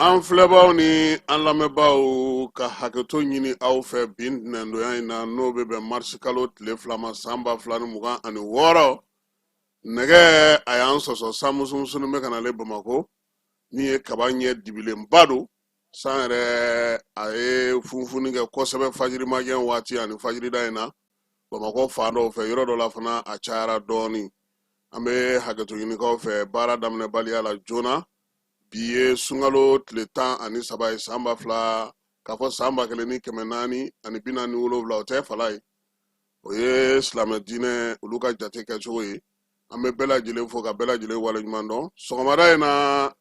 an filɛbaaw ni an lamɛnbaaw ka hakɛto ɲini aw fɛ bi ntɛnɛndonya in na n'o bɛ bɛn marisi kalo tile fila ma san ba fila ni mugan ani wɔɔrɔ nɛgɛ a y'an sɔsɔ san musumusuni bɛ ka na ale bamakɔ min ye kaba ɲɛ dibilenba don san yɛrɛ a ye funfunni kɛ kosɛbɛ fajirimagɛn waati ani fajirida in na bamakɔ fan dɔw fɛ yɔrɔ dɔ la fana a cayara dɔɔnin an bɛ hakɛto ɲini aw fɛ baara daminɛbaliya la joona bi ye sunkalo tile tan ani saba ye san ba fila k'a fɔ san ba kelen ni kɛmɛ naani ani bi naani wolonwula o tɛ fala ye o ye silamɛ diinɛ olu ka jate kɛcogo ye an bɛ bɛɛ lajɛlen fo ka bɛɛ lajɛlen waleɲuman dɔn sɔgɔmada in na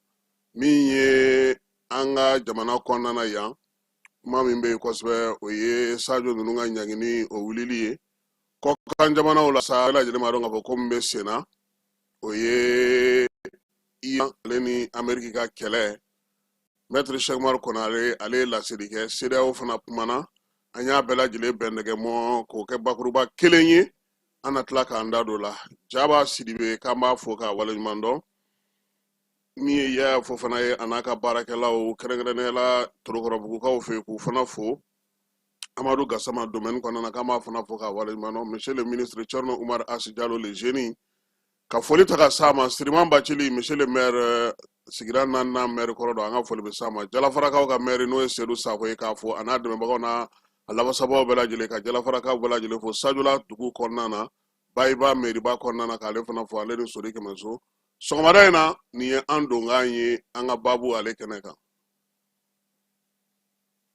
min ye an ka jamana kɔnɔna na yan kuma min bɛ yen kosɛbɛ o ye sajo ninnu ka ɲangini o wulili ye kɔkan jamanaw la sa bɛɛ lajɛlen b'a dɔn k'a fɔ ko min bɛ sen na o ye iran ale ni ameriki ka kɛlɛ mɛtiri sɛki umaru konare ale ye laseli kɛ sedeyawo fana kumana an y'a bɛɛ lajɛlen bɛn ɲɔgɔn ma k'o kɛ bakuruba kelen ye an na tila k'an da don la jaba sidibe k'an b'a fo k'a waleɲuman dɔn min ye yaya fofana ye a n'a ka baarakɛlaw kɛrɛnkɛrɛnnenya la torokɔrɔbugukaw fɛ k'u fana fo Amadou Gassama domaine kɔnɔna k'an b'a fana fo k'a waleɲumandɔn monsieur le ministre Thierno Oumar Hass Diallo le génie ka foli ta ka s'a ma Siriman Bacili monsieur le maire euh, sigida naaninan maire kɔrɔ don an ka foli bɛ s'a ma Jalafarakaw ka maire n'o ye Seydou Sakɔ ye k'a fo a n'a dɛmɛbagaw n'a lafasabaw bɛɛ lajɛlen ka Jalafarakaw bɛɛ lajɛlen fo Sajola dugu kɔnɔna na Bayiba mairiba kɔnɔna na k'ale fana fo ale ni Sori Kɛmɛso sɔgɔmada in na nin ye an donkan ye an ka baabu ale kɛnɛ kan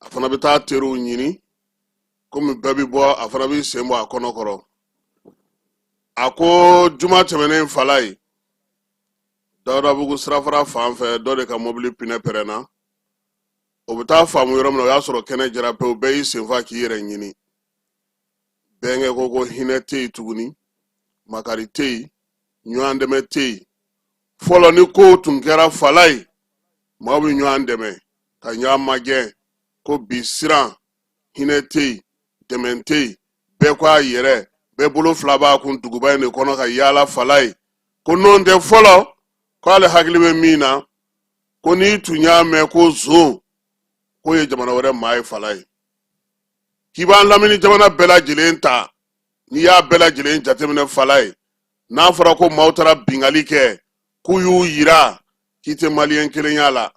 a fana bɛ taa teriw ɲini komi bɛɛ bɛ bɔ a fana b'i sen bɔ a kɔnɔ kɔrɔ a ko juma tɛmɛnen fala ye dawudabugu sirafara fan fɛ dɔ de ka mɔbili pinɛ pɛrɛnna o bɛ taa faamu yɔrɔ min na o y'a sɔrɔ kɛnɛ jara pewu bɛɛ y'i sen fa k'i yɛrɛ ɲini bɛnkɛ ko ko hinɛ tɛ yen tuguni makari tɛ yen ɲɔgɔn dɛmɛ tɛ yen fɔlɔ ni kow tun kɛra fala ye maaw bɛ ɲɔgɔn dɛmɛ ka ɲɔgɔn magɛn ko bi siran hinɛ tɛ yen dɛmɛ tɛ yen bɛɛ ko a yɛrɛ bɛɛ bolo fila b'a kun duguba in de kɔnɔ ka yaala fala ye ko n'o tɛ fɔlɔ k'ale hakili bɛ min na ko n'i tun y'a mɛn ko zon k'o ye jamana wɛrɛ maa ye fala ye k'i b'an lamini jamana bɛɛ lajɛlen ta n'i y'a bɛɛ lajɛlen jateminɛ falaye n'a fɔra ko maaw taara bingali kɛ k'u y'u yira k'i tɛ maliyɛn kelen y'a la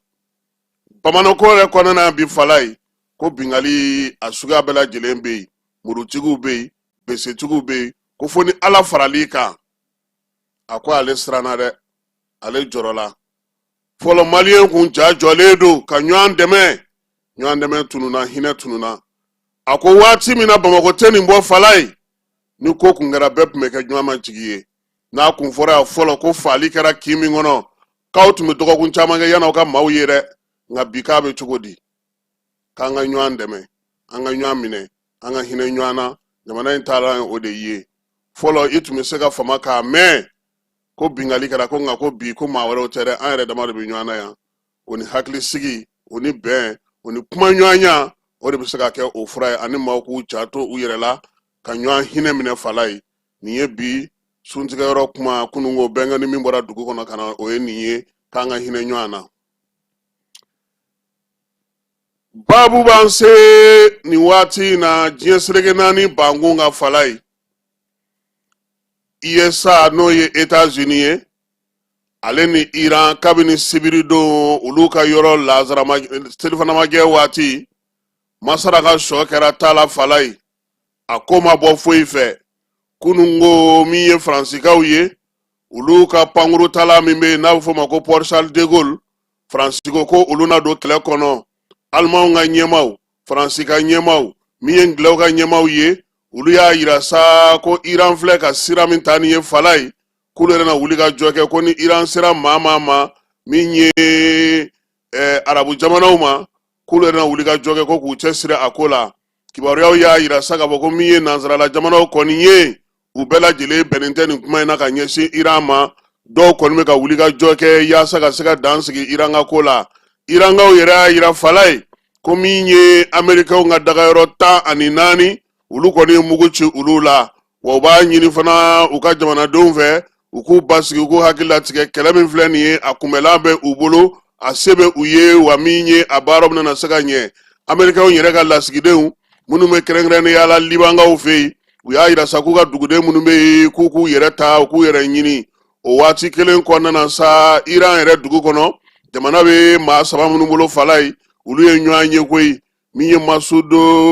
bamakɔ yɛrɛ kɔnɔna bi falaye ko bingali a suguya bɛɛ lajɛlen bɛ yen murutigiw bɛ yen besetigiw bɛ yen ko fo ni ala faral'i kan a ko ale siranna dɛ ale jɔrɔla fɔlɔ maliyɛn kun ja jɔlen don ka ɲɔgɔn dɛmɛ ɲɔgɔn dɛmɛ tununna hinɛ tununna a ko waati min na bamakɔ tɛ nin bɔ falaye ni ko kun kɛra bɛɛ tun bɛ kɛ ɲɔgɔn ma jigi ye n'a kun fɔra yan fɔlɔ ko faali kɛra kin min kɔnɔ k'aw tun bɛ dɔgɔkun caman kɛ yann'aw ka maaw ye dɛ nka bi k'a bɛ cogo di k'an ka ɲɔgɔn dɛmɛ an ka ɲɔgɔn minɛ an ka hinɛ ɲɔgɔn na jamana in taara o de ye fɔlɔ i tun bɛ se ka fama k'a mɛn ko bingali kɛra ko nka ko bi ko maa wɛrɛw tɛ dɛ an yɛrɛ dama de bɛ ɲɔgɔn na yan o ni hakilisigi o ni bɛn o ni kumaɲɔgɔnya o de bɛ se ka kɛ o fura ye ani maaw k'u janto u yɛrɛ la ka ɲɔgɔn hinɛ minɛ falaye nin ye bi suntigɛyɔrɔ kuma kununko bɛnkɛ ni min bɔra dugu kɔnɔ ka na o ye nin ye k'an ka hinɛ ɲɔgɔn na babu b'an se nin waati in na diɲɛ seleke naani bankun ka falaye usa n'o ye etazini ye ale ni iran kabini sibiridon olu ka yɔrɔ lazarama selifanamajɛ waati masara ka sɔ kɛra taala falaye a ko ma bɔ foyi fɛ kununko min ye faransikaw ye olu ka pankuruntala min bɛ yen n'a bɛ f'o ma ko port charles de gaulle faransikaw ko olu na don kɛlɛ kɔnɔ alimanw ka ɲɛmaaw faransi ka ɲɛmaaw min ye ngilɛw ka ɲɛmaaw ye olu y'a yira sa ko iran filɛ ka sira min ta nin ye falaye k'olu yɛrɛ na wulikajɔ kɛ ko ni iran sera maa maa ma min ye eh, arabu jamanaw ma k'olu yɛrɛ na wulikajɔ kɛ ko k'u cɛsiri a ko la kibaruyaw y'a yira sa k'a fɔ ko min ye nansarala jamanaw kɔni ye u bɛɛ lajɛlen bɛnnen tɛ nin kuma in na ka ɲɛsin iran ma dɔw kɔni bɛ ka wulikajɔ kɛ yaasa ka se ka dan sigi iran ka ko la irankaw yɛrɛ y'a yira falaye ko min ye amerikɛnw ka dagayɔrɔ tan ani naani olu kɔni ye mugu ci olu la wa u b'a ɲini fana u ka jamanadenw fɛ u k'u basigi u k'u hakili latigɛ kɛlɛ min filɛ nin ye a kunbɛlan bɛ u bolo a se bɛ u ye wa min ye a baaraw bɛna se ka ɲɛ amerikɛnw yɛrɛ ka lasigidenw minnu bɛ kɛrɛnkɛrɛnnenya la libankaw fɛ yen u y'a yira sa k'u ka duguden minnu bɛ yen k'u k'u yɛrɛ ta u k'u yɛrɛ ɲini o waati kelen kɔnɔna na sa iran yɛrɛ dugu kɔnɔ jamana bɛ maa saba minnu bolo falaye olu ye ɲɔgɔn ye koyi min ye masud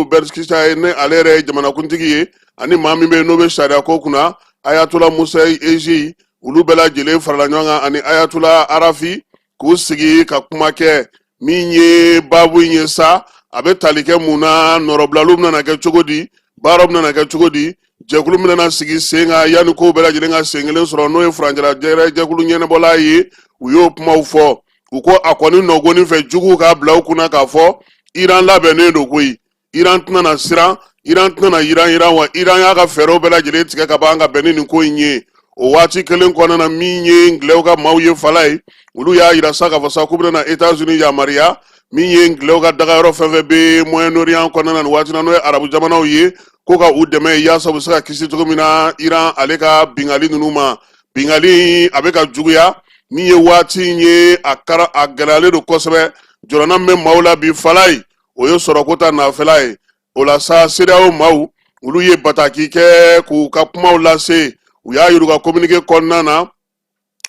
pezeshkian ye n'ale yɛrɛ ye jamanakuntigi ye ani maa min bɛ yen n'o bɛ sariya ko kunna ayatola mohseni ejei olu bɛɛ lajɛlen farala ɲɔgɔn kan ani ayatola arafi k'u sigi ka kuma kɛ min ye baabu in ye sa a bɛ tali kɛ mun na nɔrɔbilaliw bɛna kɛ cogo di baaraw bɛna kɛ cogo di jɛkulu bɛna sigi sen kan yanni kow bɛɛ lajɛlen ka sen kelen sɔrɔ n'o ye furancɛla jɛkulu ɲɛnabɔla ye u y'o kumaw fɔ u ko a kɔni nɔgɔnni fɛ juguw k'a bila u kunna k'a fɔ iran labɛnnen don koyi iran tɛna na siran iran tɛna na yiranyiran wa iran y'a ka fɛɛrɛw bɛɛ lajɛlen tigɛ ka ban ka bɛn ni nin ko in ye o waati kelen kɔnɔna na min ye ngilɛw ka maaw ye fala ye olu y'a yira sa k'a fɔ sa k'u bɛna etats unis yamaruya min ye ngilɛw ka dagayɔrɔ fɛn fɛn bɛ moyen orient kɔnɔna na nin waati na n'o ye arabu jamanaw ye ko ka u dɛmɛ yaasa u bɛ se ka kisi cogo min na iran ale ka bingali ninnu ma bingali a bɛ ka juguya min ye waati in ye a gɛlɛyalen don kosɛbɛ jɔrɔna min bɛ maaw la bi fala ye o ye sɔrɔko ta nafɛla ye o la sa CEDEAO maaw olu ye bataki kɛ k'u ka kumaw lase u y'a yir'u ka kominike kɔnɔna na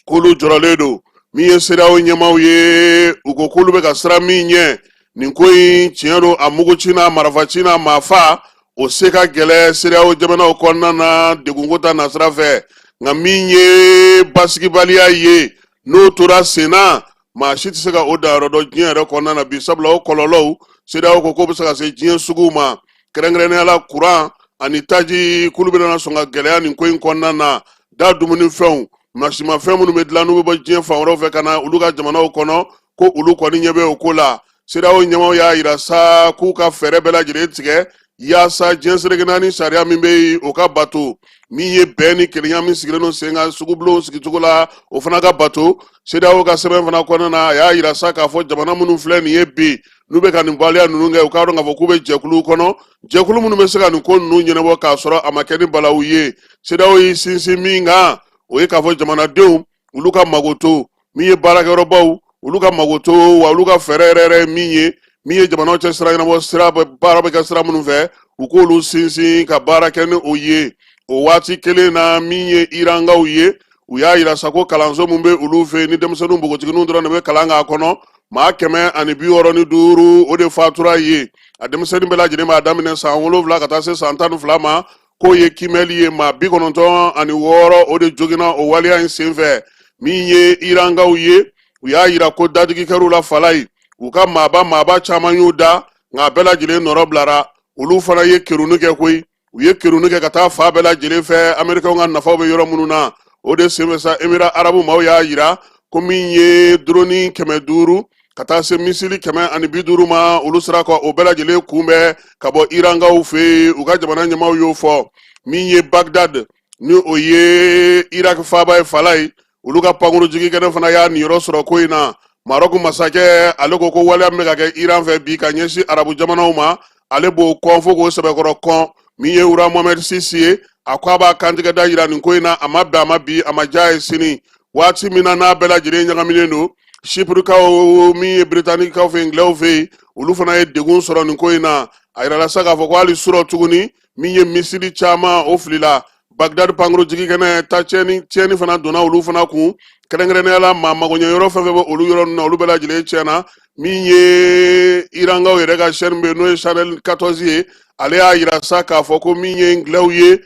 k'olu jɔrɔlen don min ye CEDEAO ɲɛmaaw ye u ko k'olu bɛ ka siran min ɲɛ nin ko in tiɲɛ don a muguci n'a marafaci n'a maafa o se ka gɛlɛ CEDEAO jamanaw kɔnɔna na degunko ta nasira fɛ nka min ye basigibaliya ye n'o tora sen na maa si tɛ se ka o danyɔrɔ dɔn diɲɛ yɛrɛ kɔnɔna na bi sabula o kɔlɔlɔw CEDEAO ko k'o bɛ se ka se diɲɛ suguw ma kɛrɛnkɛrɛnnenya la kuran ani taji k'olu bɛna sɔn ka gɛlɛya nin ko in kɔnɔna na da dumunifɛnw masimafɛn minnu bɛ dilan n'u bɛ bɔ diɲɛ fan wɛrɛw fɛ ka na olu ka jamanaw kɔnɔ ko olu kɔni ɲɛ bɛ o ko la CEDEAO ɲɛmaaw y'a yira sa k'u ka fɛɛrɛ bɛɛ lajɛlen tigɛ yaasa diɲɛ seleke naani sariya min bɛ yen o ka bato min ye bɛn ni kelenya min sigilen don sen kan sugubulonw sigicogo la o fana ka bato CEDEAO ka sɛbɛn fana kɔnɔna na a y'a yira sa k'a fɔ jamana minnu filɛ nin ye bi n'u bɛ ka nin waleya ninnu kɛ u k'a dɔn k'a fɔ k'u bɛ jɛkuluw kɔnɔ jɛkulu minnu bɛ se ka nin ko ninnu ɲɛnabɔ k'a sɔrɔ a ma kɛ ni balawu ye CEDEAO y'i sinsin min kan o ye k'a fɔ jamanadenw olu ka makoto min ye baarakɛyɔrɔbaw olu ka makoto wa olu ka fɛɛrɛ yɛrɛ yɛrɛ ye min ye min ye jamanaw cɛ sira ɲɛnabɔ sira baara bɛ kɛ sira minnu fɛ u k'olu sinsin ka baara kɛ ni o ye o waati kelen na min ye irankaw ye u y'a yira sa ko kalanso min bɛ olu fɛ ni denmisɛnninw npogotigininw dɔrɔn de bɛ kalan k'a kɔnɔ maa kɛmɛ ani bi wɔɔrɔ ni duuru o de fatura ye a denmisɛnnin bɛɛ lajɛlen b'a daminɛ san wolonwula ka taa se san tan ni fila ma k'o ye kiimɛli ye maa bi kɔnɔntɔn ani wɔɔrɔ o de joginna o waleya in senfɛ min ye irankaw ye u y'a yira ko dadigi kɛr'u la fala ye u ka maaba maaba caman y'u da nka a bɛɛ lajɛlen nɔrɔ bilara olu fana ye keruni kɛ koyi u ye keruni kɛ ka taa fan bɛɛ lajɛlen fɛ amerikɛnw ka nafaw bɛ yɔrɔ minnu na o de senfɛ sa emira arabu maaw y'a yira ko min ye duroni kɛmɛ duuru ka taa se misili kɛmɛ ani bi duuru ma olu sera ka o bɛɛ lajɛlen kunbɛn ka bɔ irankaw fɛ yen u ka jamana ɲɛmaaw y'o fɔ min ye bagdad ni o ye iraki faaba ye falayi olu ka pankuru jigikɛnɛ fana y'a niyɔrɔ sɔrɔ ko in na marɔku masakɛ ale ko ko waleya min bɛ ka kɛ iran fɛ bi ka ɲɛsin arabu jamanaw ma ale b'o kɔn fo k'o sɛbɛkɔrɔ kɔn min ye roi mohamɛd six ye a ko a b'a kantigɛda yira nin ko in na a ma bɛn a ma bi a ma diy'a ye sini waati min na n'a bɛɛ lajɛlen ɲagaminen don sipurikaw min ye biritanikaw fɛ ngilɛw fɛ yen olu fana ye degun sɔrɔ nin ko in na a yirala sa k'a fɔ ko hali surɔ tuguni min ye misili caman o filila bagdad pankuru jigikɛnɛ ta tiɲɛni tiɲɛni fana donna olu fana kun kɛrɛnkɛrɛnnenya la maa magoɲɛyɔrɔ fɛn fɛn bɛ olu yɔrɔ ninnu na olu bɛɛ lajɛlen tiɲɛna min ye irankaw yɛrɛ ka chaîne bɛ yen n'o ye channel 14 ye ale y'a yira sa k'a fɔ ko min ye ngilɛw ye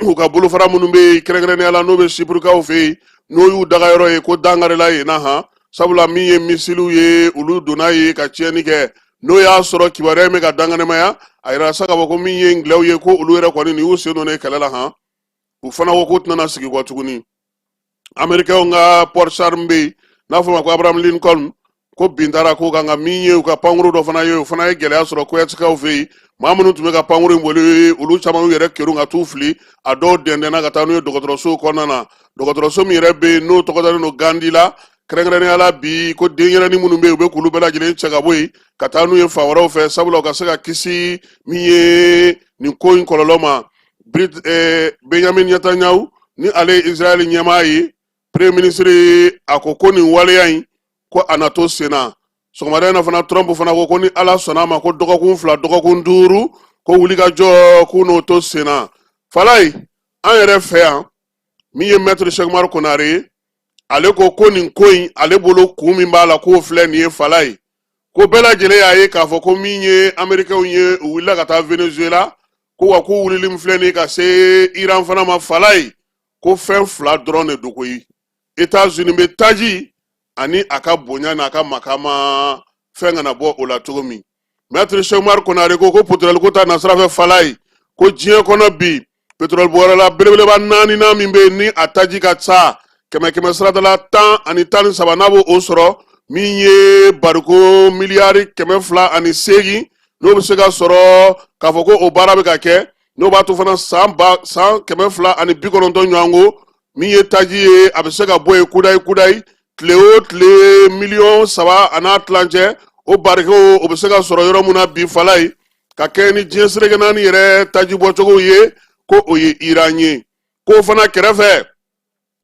u ka bolofara minnu bɛ yen kɛrɛnkɛrɛnnenya la n'o bɛ sipurikaw fɛ yen n'o y'u dagayɔrɔ ye ko dankarila yen na han sabula min ye misiliw ye olu donna yen ka tiɲɛni kɛ n'o y'a sɔrɔ kibaruya in bɛ ka danganamaya a yira sa k'a fɔ ko min ye ngilɛw ye ko olu yɛrɛ kɔni nin y'u sen don nin kɛlɛ la han u fana ko k'u tɛna sigi kɔ tuguni amerikɛnw ka porte-char min bɛ yen n'a fɔ ma ko abraham lincoln ko bin taara k'o kan ka min ye u ka pankuru dɔ fana ye o fana ye gɛlɛya sɔrɔ koyatikaw fɛ yen maa minnu tun bɛ ka pankuru in boli olu caman yɛrɛ kerun ka t'u fili a dɔw dɛndɛnna ka taa n'u ye dɔgɔtɔrɔso kɔnɔna na dɔgɔtɔrɔso min yɛrɛ bɛ yen n'o tɔgɔ dalen don gandi la kɛrɛnkɛrɛnnenya la bi ko denyɛrɛnin minnu bɛ yen u bɛ k'olu bɛɛ lajɛlen cɛ ka bɔ yen ka taa n'u ye fan wɛrɛw fɛ sabula u ka se ka kisi min ye nin ko in kɔlɔlɔ ma eh, benyamin netanyahu ni ale ye israel ɲɛmaa ye premier ministre a ko ko nin waleya in ko a na to sen na sɔgɔmada in na fana trump fana ko ko ni ala sɔnna a ma ko dɔgɔkun fila dɔgɔkun duuru ko wulikajɔ k'u n'o to sen na falayi an yɛrɛ fɛ yan min ye mɛtiri cheick oumar konare ye ale ko ko nin ko in ale bolo kun min b'a la k'o filɛ nin ye falayi ko bɛɛ lajɛlen y'a ye k'a fɔ ko min ye amerikɛnw ye u wulila ka taa venezuela ko wa k'u wulili min filɛ nin ye ka se iran fana ma falayi ko fɛn fila dɔrɔn de don koyi etats unis bɛ taji ani a ka bonya n'a ka makama fɛn kana bɔ o la cogo min mɛtiri cheick oumar konare ko ko petroli ko ta nasira fɛ falayi ko diɲɛ kɔnɔ bi petroli bɔyɔrɔla belebeleba naaninan min bɛ yen ni a taji ka ca kɛmɛ kɛmɛ sarada la tan ani tan ni saba n'a b'o sɔrɔ min ye bariko miliyari kɛmɛ fila ani seegin n'o bɛ se ka sɔrɔ k'a fɔ ko o baara bɛ ka kɛ n'o b'a to fana san ba san kɛmɛ fila ani bi kɔnɔntɔn ɲɔgɔn ko min ye taji ye a bɛ se ka bɔ yen kudayi kudayi tile o tile miliyɔn saba a n'a tilancɛ o barikow o bɛ se ka sɔrɔ yɔrɔ min na bi falaye ka kɛɲɛ ni diɲɛ sereke naani yɛrɛ taji bɔcogow ye ko o ye iran ye k'o fana kɛrɛfɛ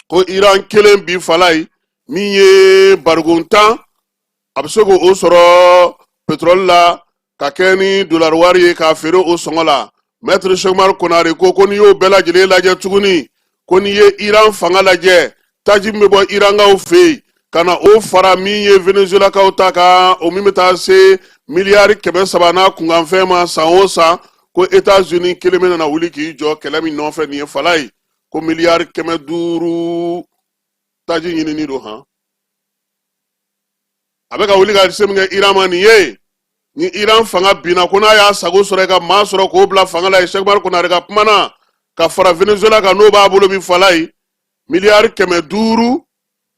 ko iran kelen bi falaye min ye bariko tan a bɛ se k'o sɔrɔ petrɔli la ka kɛɲɛ ni dolari wari ye k'a feere o sɔngɔ la mɛtiri sɛkumari konare ko ko n'i y'o bɛɛ lajɛlen lajɛ tuguni ko n'i ye iran fanga lajɛ taji min bɛ bɔ irankaw fɛ yen ka na o fara min ye venezuelakaw ta kan o min bɛ taa se miliyari kɛmɛ saba n'a kunkanfɛn ma san o san ko etats unis kelen bɛ nana wuli k'i jɔ kɛlɛ min nɔfɛ nin ye falaye ko miliyari kɛmɛ duuru taji ɲinini don han a bɛ ka wuli ka se min kɛ iran ma nin ye ni iran fanga binna ko n'a y'a sago sɔrɔ i ka maa sɔrɔ k'o bila fanga la yen sɛkumari konare ka kuma na ka fara venezuela kan n'o b'a bolo bi falaye miliyari kɛmɛ duuru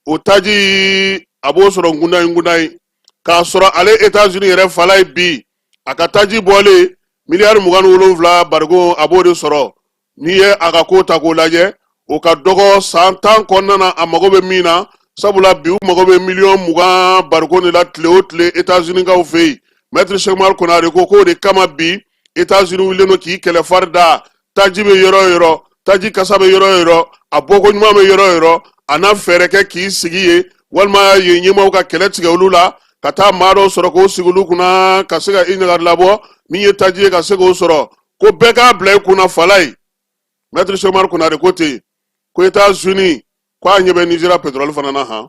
o taji a b'o sɔrɔ kudayi kudayi k'a sɔrɔ ale etats-unis yɛrɛ falaye bi a ka taji bɔlen miliyari mugan ni wolonwula barigo a b'o de sɔrɔ n'i ye a ka ko ta k'o lajɛ o ka dɔgɔ san tan kɔnɔna na a mago bɛ min na sabula bi u mago bɛ miliyɔn mugan bariko de la tile o tile etazunikaw fɛ yen mɛtiri sɛkumari konare ko k'o de kama bi etazuni wulilen don k'i kɛlɛ fari da taji bɛ yɔrɔ o yɔrɔ taji kasa bɛ yɔrɔ o yɔrɔ a bɔko ɲuman bɛ yɔrɔ o yɔrɔ a na fɛɛrɛ kɛ k'i sigi yen walima yen ɲɛmaaw ka kɛlɛ tigɛ olu la ka taa maa dɔw sɔrɔ k'o sigi olu kunna ka se ka i ɲagali labɔ min ye taji ye ka se k'o sɔrɔ ko bɛɛ k'a bila i kunna falaye mɛtiri sɛkumari konare ko ten ko etazuni ko a ɲɛ bɛ nizeriya petrɔli fana na han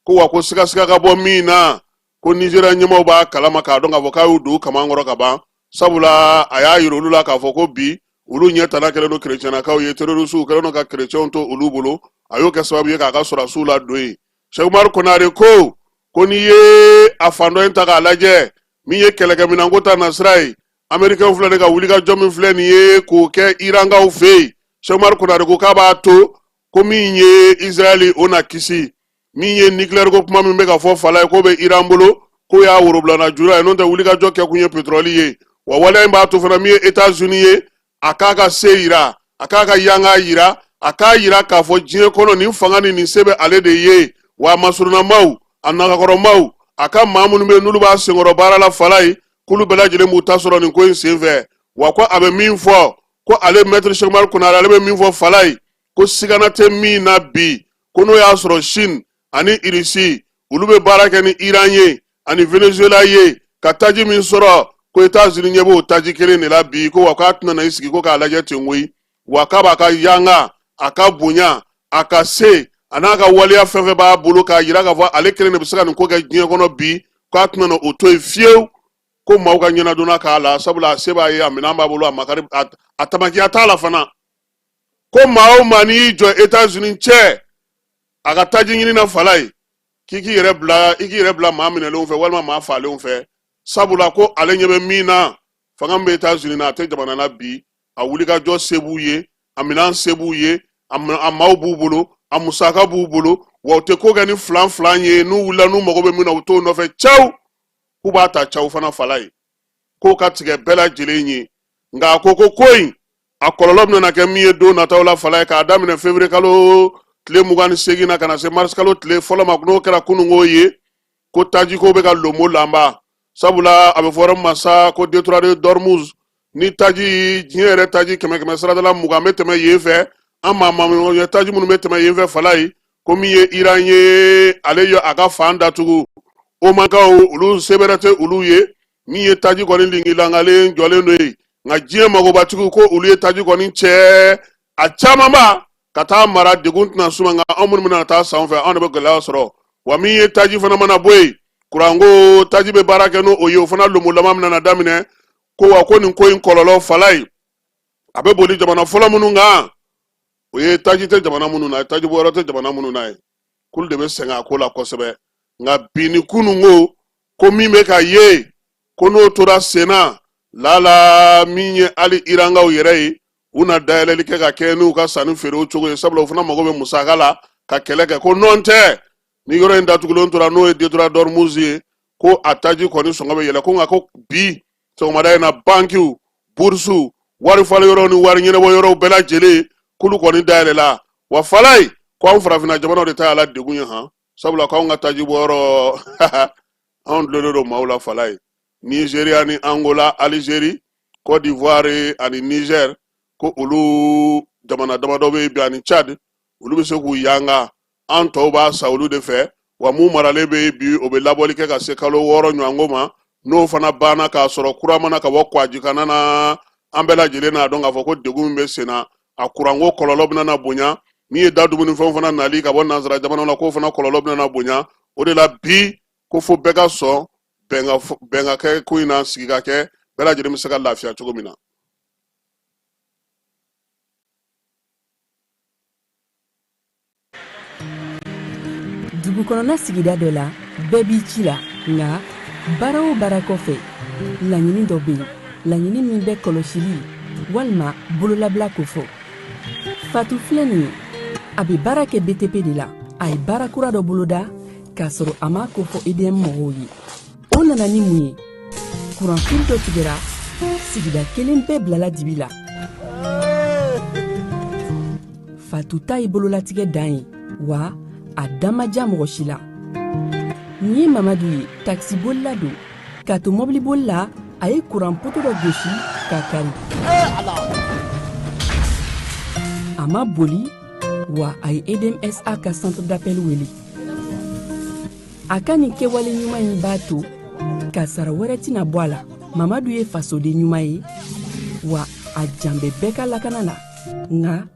ko wa ko sigasiga ka bɔ min na ko nizeriya ɲɛmaaw b'a kalama k'a dɔn k'a fɔ k'a y'u don kaman kɔrɔ ka ban sabula a y'a yira olu la k'a fɔ ko bi olu ɲɛ tana kɛlen don kerecɛnnakaw ye terorisiw kɛlen don ka kerecɛnw to olu bolo a y'o kɛ sababu ye k'a ka sɔrɔdasiw ladon yen sɛkumari konare ko ko n'i ye a fan dɔ in ta k'a lajɛ min ye kɛlɛkɛminɛnko ta nasira ye amerikɛnw filɛ nin ka wulikajɔ min filɛ nin ye k'o kɛ irankaw fɛ yen sɛkumari konare ko k'a b'a to ko min ye israɛli o na kisi min ye nikilɛri ko kuma min bɛ ka fɔ falaye k'o bɛ iran bolo k'o y'a worobilana jura ye n'o tɛ wulikajɔ kɛkun ye petrɔli ye wa waleya in b'a to fana min ye etats unis ye a k'a ka se yira a k'a ka yanga yira a k'a yira k'a fɔ diɲɛ kɔnɔ nin fanga ni nin se bɛ ale de ye wa a masurunamaw a nagakɔrɔmaw a ka maa minnu bɛ n'olu b'a senkɔrɔ baara la falaye k'olu bɛɛ lajɛlen b'u ta sɔrɔ nin ko in senfɛ wa ko a bɛ min fɔ ko ale mɛtiri sɛkumari konare ale bɛ min fɔ falaye ko sigana tɛ min na bi ko n'o y'a sɔrɔ sini ani irisi olu bɛ baara kɛ ni iran ye ani venezuela ye ka taji min sɔrɔ ko etazini ɲɛ b'o taji kelen de la bi ko wa k'a tɛna na i sigi ko k'a lajɛ ten koyi wa k'a b'a ka yanga a ka bonya a ka se a n'a ka waleya fɛn fɛn b'a bolo k'a yira k'a fɔ ale kelen de bɛ se ka nin ko kɛ diɲɛ kɔnɔ bi k'a tɛna na o to yen fiyewu ko maaw ka ɲɛnadonna k'a la sabula a se b'a ye a minɛn b'a bolo a makari a tamakiya t'a la fana ko maa o maa n'i y'i jɔ etazini cɛ a ka taji ɲini na falaye k'i k'i yɛrɛ bila i k'i yɛrɛ bila maa minɛlenw fɛ walima maa faalenw fɛ sabula ko ale ɲɛ bɛ min na fanga min bɛ etazini na a tɛ jamana na bi a wulikajɔ se b'u ye a minɛn se b'u ye a maaw b'u bolo a musaka b'u bolo wa u tɛ ko kɛ ni filan filan ye n'u wulila n'u mago bɛ min na u t'o nɔfɛ caw k'u b'a ta caw fana falaye k'o ka tigɛ bɛɛ lajɛlen ye nka a ko ko ko in a kɔlɔlɔ bɛna kɛ min ye don nataw la falaye k'a daminɛ fevrier kalo tile mugan ni seegin na ka na se mars kalo tile fɔlɔ ma n'o kɛra kununko ye ko tajiko bɛ ka lomo lanba sabula a bɛ fɔ yɔrɔ ma sa ko detroit de d'ormuz ni taji diɲɛ yɛrɛ taji kɛmɛ kɛmɛ sarada la mugan bɛ tɛmɛ yen fɛ an maa maa taji minnu bɛ tɛmɛ yen fɛ falaye ko min ye iran ye ale ye a ka fan datugu omankaw olu sebɛrɛ tɛ olu ye min ye taji kɔni lingilangalen jɔlen don yen nka diɲɛ magobatigiw ko olu ye taji kɔni cɛ a camanba ka taa mara degun tɛna s'u ma nka anw minnu bɛna t'a san u fɛ anw de bɛ gɛlɛya sɔrɔ wa min ye taji fana mana bɔ yen kuranko taji bɛ baara kɛ n'o ye o fana lomolama bɛna daminɛ ko wa ko nin ko in kɔlɔlɔ falaye a bɛ boli jamana fɔlɔ minnu kan o ye taji tɛ jamana minnu na taji bɔ yɔrɔ tɛ jamana minnu na ye k'olu de bɛ sɛgɛn a ko la kosɛbɛ nka bi ni kununko ko min bɛ ka ye ko n'o tora senna lala min ye hali irankaw yɛrɛ ye u na dayɛlɛli kɛ ka kɛ n'u ka sanni feerew cogo ye sabula u fana mago bɛ musaka la ka kɛlɛ kɛ ko nɔn tɛ ni yɔrɔ in datugulen tora n'o ye detroit d'ormuz ye ko a taji kɔni sɔngɔ bɛ yɛlɛ ko nka ko bi sɔgɔmada in na bankiw burusiw wari falen yɔrɔw ni wari ɲɛnabɔ yɔrɔw bɛɛ lajɛlen k'olu kɔni dayɛlɛla wa falaye ko anw farafinna jamanaw de ta y'a la degun ye han sabula k'anw ka taji bɔ yɔrɔ anw dulonnen don maaw la falaye nigeria ni angola algerie cote d'ivoire ani niger ko olu jamana damadɔ bɛ bi ani tchad olu bɛ se k'u yanga an tɔw b'a san olu de fɛ wa min maralen bɛ bi o bɛ labɔli kɛ ka se kalo wɔɔrɔ ɲɔgɔnko ma n'o fana banna k'a sɔrɔ kura ma na ka bɔ kwajikanna na an bɛɛ lajɛlen n'a dɔn k'a fɔ ko degun min bɛ sen na a kuranko kɔlɔlɔ bɛna na bonya min ye da dumunifɛnw fana nali ka bɔ nanzara jamanaw la k'o fana kɔlɔlɔ bɛna na bonya o de la bi ko fo bɛɛ ka sɔn bɛn ka kɛ ko in na sigi ka kɛ bɛɛ lajɛlen bɛ se ka lafiya cogo min na dugu kɔnɔna sigida dɔ la bɛɛ b'i ci la nka baara o baara kɔfɛ laɲini dɔ bɛ yen laɲini min bɛ kɔlɔsili walima bololabila kofɔ fatu filɛ nin ye a bɛ baara kɛ btp de la a ye baara kura dɔ boloda k'a sɔrɔ a m'a kofɔ edm mɔgɔw ye o nana ni mun ye kuranfili dɔ tigɛra sigida kelen bɛɛ bilala dibi la fatu ta ye bololatigɛ dan ye wa a da ma diya mɔgɔ si la nin ye mamadu ye takisibolila don k'a to mɔbiliboli la a ye kuran poto dɔ gosi k'a kari a ma boli wa a ye edmsa ka centre d'appel wele a ka nin kɛwale ɲuman in b'a to kasara wɛrɛ tɛna bɔ a la mamadu ye fasoden ɲuman ye wa a jan bɛ bɛɛ ka lakana la nka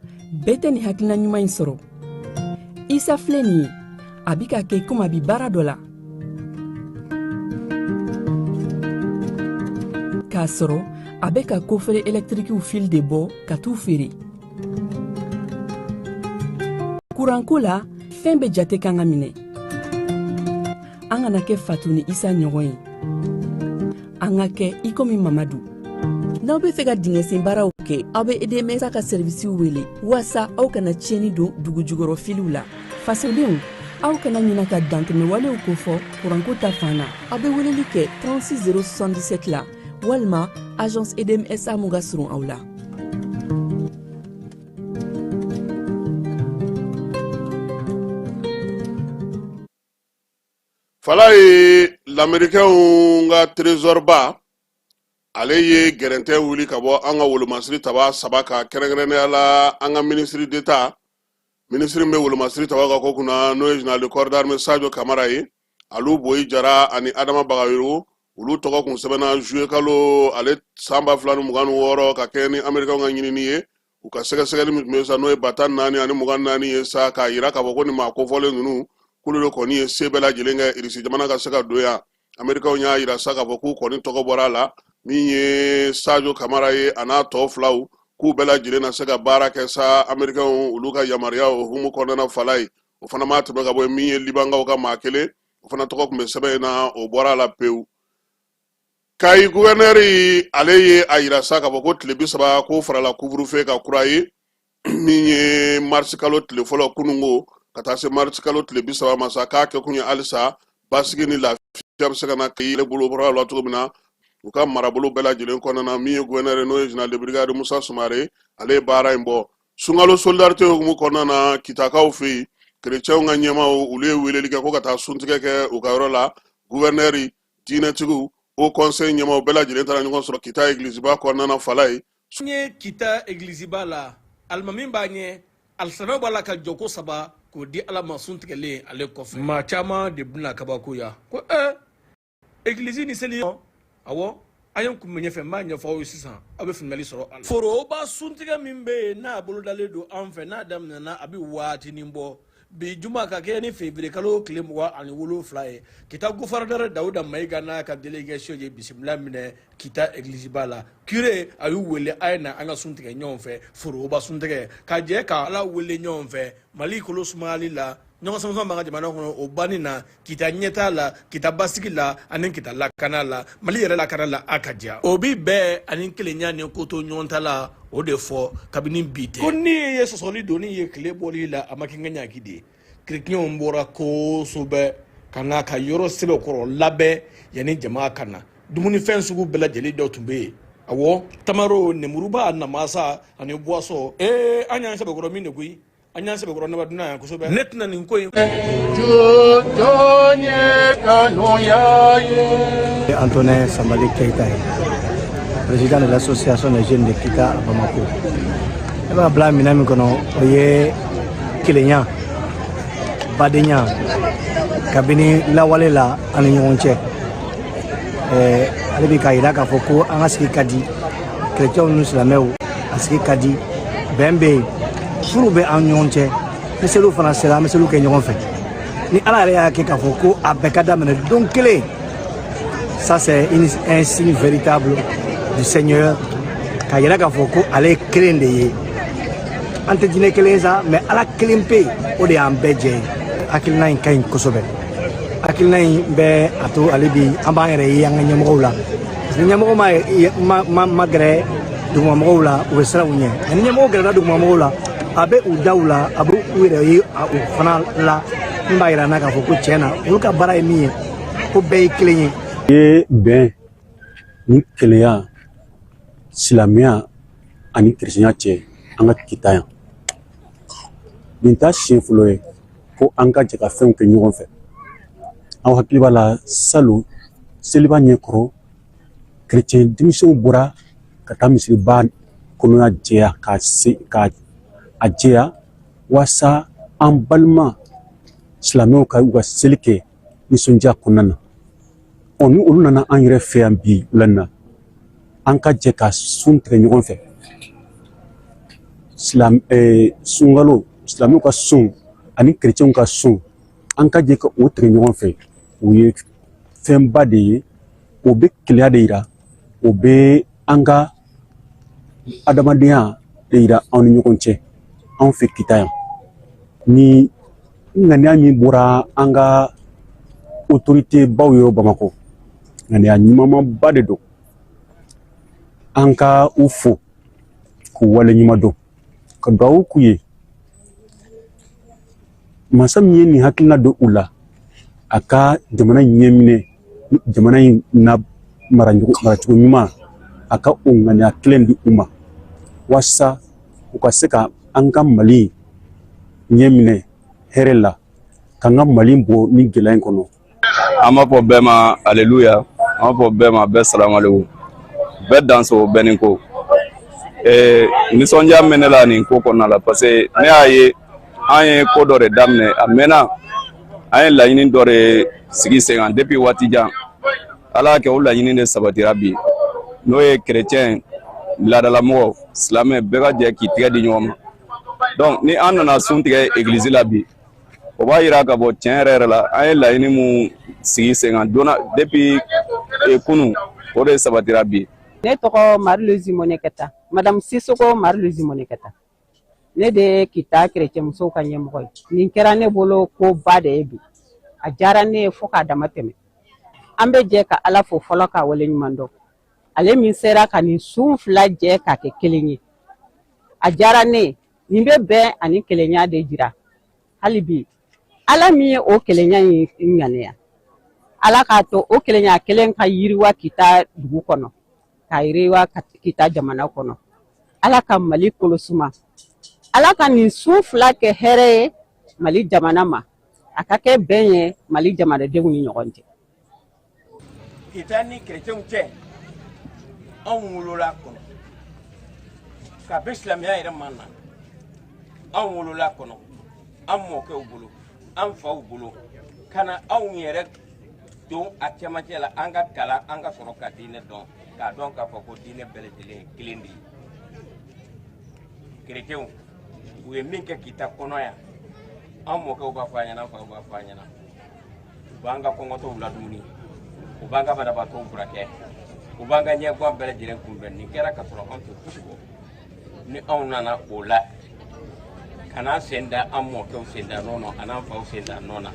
bɛɛ tɛ nin hakilina ɲuman in sɔrɔ isa filɛ nin ye a bi k'a kɛ komi a bi baara dɔ la k'a sɔrɔ a bɛ ka kofere ɛlɛtirikiw fili de bɔ ka t'u feere kuranko la fɛn bɛɛ jate kan ka minɛ an kana kɛ fatu ni isa ɲɔgɔn ye an ka kɛ i komi mamadu n'aw be fɛ ka dingɛsen baaraw kɛ aw be edmsa ka sɛrivisiw wele waasa aw kana tiɲɛni don dugu jukɔrɔ filiw la fasodenw aw kana ɲina ka dantɛmɛwalew kofɔ kuranko ta fan na aw be weleli kɛ 36 077 la walima agence edmsa min ka surun aw la falayi lamerikɛnw ka trezɔriba ale ye gɛrɛntɛ wuli ka bɔ an ka wolomasiri taba saba ka kɛrɛnkɛrɛnnenya la an ka minisiri deta minisiri bɛ wolomasiri tabaw ka ko kunna n'o ye jenerali kɔridarime sajo kamara ye alu boyi jara ani adama bagayogo olu tɔgɔ kun sɛbɛnna juye kalo ale san ba fila ni mugan ni wɔɔrɔ ka kɛɲɛ ni amerikaw ka ɲinini ye u ka sɛgɛsɛgɛli min tun bɛ sa n'o ye ba tan naani ani mugan naani ye sa k'a yira k'a fɔ ko nin maa kofɔlen ninnu k'olu de kɔni ye se bɛɛ lajɛlen kɛ irisi jamana ka se ka don yan amerikaw y'a yira sa k'a fɔ k'u kɔni tɔgɔ bɔra a la min ye sajo kamara ye a n'a tɔ filaw k'u bɛɛ lajɛlen na se ka baara kɛ sa amerikaw olu ka yamaruya o hukumu kɔnɔna falayi o fana ma tɛmɛ ka bɔ min ye libankaw ka maa kelen o fana tɔgɔ tun bɛ sɛbɛn in na o bɔra a la pewu kayi guvɛnɛri ale ye a yira sa k'a fɔ ko tile bi saba k'o farala kuvurufe kan kura ye min ye marisi kalo tile fɔlɔ kununko ka taa se marisi kalo tile bi saba ma sa k'a kɛkun ye halisa basigi ni lafiya bɛ se ka na kayi yɛrɛ bolo la cogo min na u ka marabolo bɛɛ lajɛlen kɔnɔna na min ye guvɛnɛri n'o ye general de brigade musa sumare ale ye baara in bɔ sunkalo solidarite hukumu kɔnɔna na kitakaw fɛ yen kerecɛnw ka ɲɛmaaw olu ye weleli kɛ ko ka taa suntigɛ kɛ u ka yɔrɔ la guvɛrnɛri diinɛtigiw haut conseil ɲɛmaaw bɛɛ lajɛlen taara ɲɔgɔn sɔrɔ kita egiliziba kɔnɔna na fala ye n ye kita egiliziba la alimami b'a ɲɛ alisana b'a la ka jɔko saba k'o di ala ma sun tigɛlen ale kɔfɛ maa caman de bɛna kabakoya ko ee eh, egilizi ni seli awɔ a ye kun bɛ ɲɛfɛ n b'a ɲɛfɔ aw ye sisan aw bɛ faamuyali sɔrɔ a la foroba suntigɛ min bɛ yen n'a bolodalen don an fɛ n'a daminɛna a bɛ waatinin bɔ bi juma ka kɛ ni fevrier kalo tile mugan ani wolonfila ye kita gofɔrɔnɛrɛ dawuda mayiga n'a ka delegation ye bisimila minɛ kita egilisiba la kure a y'u wele a ye na an ka sun tigɛ ɲɔgɔn fɛ foroba suntigɛ ka jɛ ka ala wele ɲɔgɔn fɛ mali kolo sumayali la ɲɔgɔn samasama b'an ka jamana kɔnɔ o banni na kita ɲɛtaa la kita basigi la ani kita lakana la mali yɛrɛ lakana la a ka diya o bi bɛɛ ani kelenya ni kotoɲɔgɔntala o de fɔ kabini bi tɛ ko n'i ye sɔsɔli doni ye tile bɔli la a ma kɛ n ka ɲaki de ye kerecɛnw bɔra kosɛbɛ ka na ka yɔrɔ sɛbɛkɔrɔ labɛn yanni jama ka na dumunifɛn sugu bɛɛ lajɛlen dɔ tun bɛ yen awɔ tamaro nemuruba namasa ani boisson ee an y'an sɛbɛkɔrɔ min de koyi an y'an sɛbɛkɔrɔ naba dunan yan kosɛbɛ ne tɛna nin ko in jɔn ye kanuya ye antonin sanbali keyita ye président de l'association des jeunes de kita à bamako ne b'a bila minɛn min kɔnɔ o ye kelenya badenya kabini lawale la an ni ɲɔgɔn cɛ ale bɛ k'a jira k'a fɔ ko an ka sigi ka di kerecɛnw ni silamɛw a sigi ka di bɛn bɛ yen furu bɛ an ɲɔgɔn cɛ ni seliw fana sera an bɛ seliw kɛ ɲɔgɔn fɛ ni ala yɛrɛ y'a kɛ k'a fɔ ko a bɛɛ ka daminɛ don kelen ça c'est un signe véritable du seigneur k'a yira k'a fɔ ko ale ye kelen de ye an tɛ diinɛ kelen sa mais ala kelen pe o de y'an bɛɛ jɛ ye hakilina in ka ɲi kosɛbɛ hakilina in bɛ a to hali bi an b'an yɛrɛ ye an ka ɲɛmɔgɔw la ni ɲɛmɔgɔ ma gɛrɛ dugumamɔgɔw la u bɛ siran u ɲɛ ni ɲɛmɔgɔ gɛrɛla dugumamɔgɔw la a bɛ u da u la a bɛ u yɛrɛ ye u fana la min b'a yira n na k'a fɔ ko tiɲɛ na olu ka baara ye min ye ko bɛɛ ye kelen ye. i ye bɛn ni kelenya silamɛya ani kerecɛnya cɛ an ka kita yan nin t'a siɲɛ fɔlɔ ye ko an ka jɛ ka fɛnw kɛ ɲɔgɔn fɛ aw hakili b'a la salon seliba ɲɛkɔrɔ kerecɛn denmisɛnw bɔra ka taa misiriba kɔnɔna jɛya ka a jɛya walasa an balima silamɛw ka u ka seli kɛ nisɔndiya kɔnɔna na ɔ ni olu nana an yɛrɛ fɛ yan bi wula in na an ka jɛ ka sun tigɛ ɲɔgɔn fɛ silam sunkalo silamɛw ka sun ani kerecɛnw ka sun an ka jɛ ka o tigɛ ɲɔgɔn fɛ o ye fɛnba de ye o bɛ kelenya de yira o bɛ an ka adamadenya de yira anw ni ɲɔgɔn cɛ anw fɛ kita yan nin ŋaniya min bɔra an ka otorite baw yɔrɔ bamakɔ ŋaniya ɲumanba de don an ka u fo k'u wale ɲuman dɔn ka duwawu k'u ye masa min ye nin hakilina don u la a ka jamana in ɲɛminɛ jamana in na maracogo maracogo ɲuman a ka o ŋaniya kelen di u ma walasa u ka se ka an ka mali ɲɛminɛ hɛrɛ la k'an ka mali bɔ nin gɛlɛya in kɔnɔ an b'a fɔ bɛɛ ma aleluya an b'a fɔ bɛɛ ma bɛɛ salamaleku bɛɛ danso bɛɛ ni ko ee nisɔndiya bɛ ne la nin ko kɔnɔna la parce que ne y'a ye an ye ko dɔ de daminɛ a mɛnna an ye laɲini dɔ de sigi sen kan depuis waati jan ala y'a kɛ o laɲini de sabatira bi n'o ye kerecɛn laadalamɔgɔ silamɛ bɛɛ ka jɛ k'i tɛgɛ di ɲɔgɔn ma donc ni an nana sun tigɛ egilizi la bi o b'a yira k'a fɔ tiɲɛ yɛrɛ yɛrɛ la an ye laɲini min sigi sen kan donc depuis e, kunu o de sabatira bi ne tɔgɔ mari luzi mɔnɛkɛta madamu sisoko mari luzi mɔnɛkɛta ne de ye kita kerecɛmusow ka ɲɛmɔgɔ ye nin kɛra ne bolo ko ba de ye bi a diyara ne ye fo k'a damatɛmɛ an bɛ jɛ ka ala fo fɔlɔ k'a wale ɲuman dɔn ale min sera ka nin sun fila jɛ k'a kɛ kelen ye a diyara ne ye nin bɛ bɛn ani kelenya de jira hali bi ala min ye o kelenya in ŋaniya ala k'a to o kelenya kelen ka yiriwa kita dugu kɔnɔ ka yiriwa kita jamana kɔnɔ ala ka mali kolosuma ala ka nin sun fila kɛ hɛrɛ ye mali jamana ma a ka kɛ bɛn ye mali jamanadenw ni ɲɔgɔn cɛ kita ni kerecɛnw cɛ anw wolol'a kɔnɔ kabi silamɛya yɛrɛ ma na anw wolol'a kɔnɔ an mɔkɛw bolo an faw bolo ka na anw yɛrɛ don a cɛmancɛ la an ka kalan an ka sɔrɔ ka diinɛ dɔn k'a dɔn k'a fɔ ko diinɛ bɛɛ lajɛlen ye kelen de ye kerecɛnw u ye min kɛ kita kɔnɔ yan an mɔkɛw b'a fɔ a ɲɛna an faw b'a fɔ a ɲɛna u b'an ka kɔngɔtɔw ladumuni u b'an ka banabaatɔw furakɛ u b'an ka ɲɛguwan bɛɛ lajɛlen kunbɛn nin kɛra ka sɔrɔ an tɛ fosi bɔ ni anw nana o la ka n'an sen da an mɔkɛw sen da nɔ na an'an faw sen da nɔ na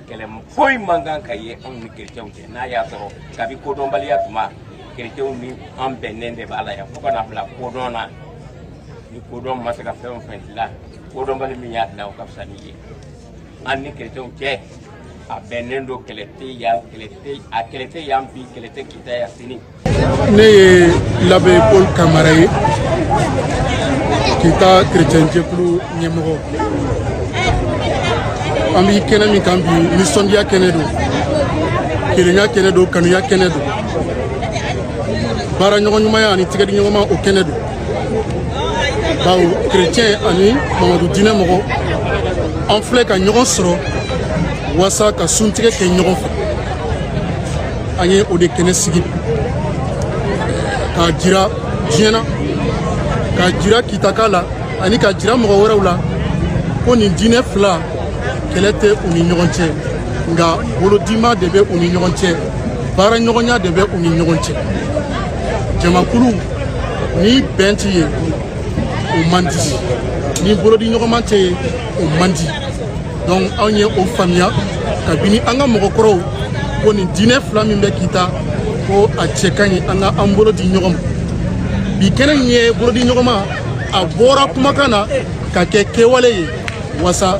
kɛlɛ foyi man kan ka ye anw ni kerecɛnw cɛ n'a y'a sɔrɔ kabi kodɔnbaliya tuma kerecɛnw ni an bɛnnen de b'a la yan fo ka na bila kodɔn na ni kodɔn ma se ka fɛn o fɛn dilan kodɔnbali min y'a dilan o ka fisa n'i ye an ni kerecɛnw cɛ a bɛnnen don kɛlɛ tɛ yan kɛlɛ tɛ a kɛlɛ tɛ yan bi kɛlɛ tɛ kita yan sini. ne ye l'abbé paul kamara ye kita kerecɛn jɛkulu ɲɛmɔgɔ an bɛ kɛnɛ min kan bi nisɔndiya kɛnɛ don kelenya kɛnɛ don kanuya kɛnɛ don baara ɲɔgɔn ɲumanya ani tigɛdi ɲɔgɔnma o kɛnɛ don bawo chrétien ani mamadu diinɛ mɔgɔ an filɛ ka ɲɔgɔn sɔrɔ waasa ka suntigɛ kɛ ɲɔgɔn fɛ an ye o de kɛnɛ sigi k'a jira diɲɛ na k'a jira kitaka la ani k'a jira mɔgɔ wɛrɛw la ko nin diinɛ fila kɛlɛ tɛ u ni ɲɔgɔn cɛ nka bolodima de bɛ u ni ɲɔgɔn cɛ baara ɲɔgɔnya de bɛ u ni ɲɔgɔn cɛ jamakulu ni bɛn tɛ yen o man di ni bolodi ɲɔgɔnman tɛ yen o man di donc anw ye o faamuya kabini an ka mɔgɔkɔrɔw ko nin diinɛ fila min bɛ kita ko a cɛ ka ɲi an ka an bolo di ɲɔgɔn ma bi kɛnɛ in ye bolodi ɲɔgɔnma a bɔra kumakan na ka kɛ kɛwale ye wasa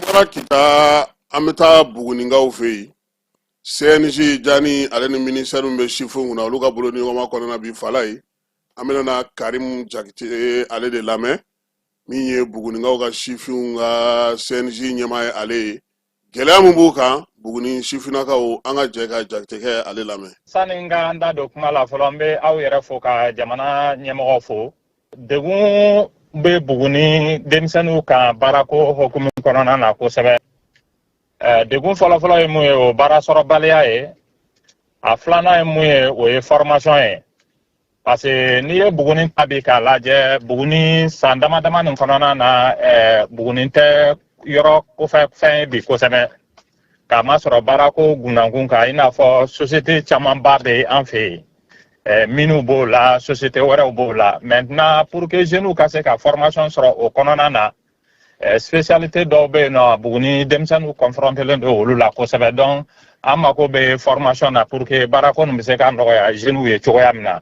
bɔra kita an bɛ taa buguninkaw fɛ yen cnj jani ale ni minisɛri min bɛ sifinw kunna olu ka bolodi ɲɔgɔnma kɔnɔna bi fala ye an bɛna na karimu jakite ale de lamɛn min ye buguninkaw ka sifinw ka cnj ɲɛmaa ye ale ye gɛlɛya min b'u kan buguni sifinnakaw an ka jɛ ka jakitekɛ ale lamɛn sani n ka n da don kuma la fɔlɔ n bɛ aw yɛrɛ fo ka jamana ɲɛmɔgɔ fo degun bɛ buguni denmisɛnninw kan baarako hokumu kɔnɔna na kosɛbɛ eh, degun fɔlɔfɔlɔ ye mun ye o baara sɔrɔbaliya ye a filanan ye mun ye o ye formation ye parce que n'i ye buguni ta bi k'a lajɛ buguni san dama dama nin kɔnɔna na eh, buguni tɛ yɔrɔ kɔfɛ fɛn ye bi kosɛbɛ k'a masɔrɔ baarako gunnakun kan i n'a fɔ société camanba bɛ an fɛ yen eh, mines b'o la société wɛrɛw b'o la maintenant pour que jeunes ka se ka formation sɔrɔ o kɔnɔna na eh, spécialité dɔw bɛ yen nɔ buguni denmisɛnninw confrontelen don olu la kosɛbɛ donc an mako bɛ formation na pour que baarako nin bɛ se ka nɔgɔya jeunes ye cogoya min na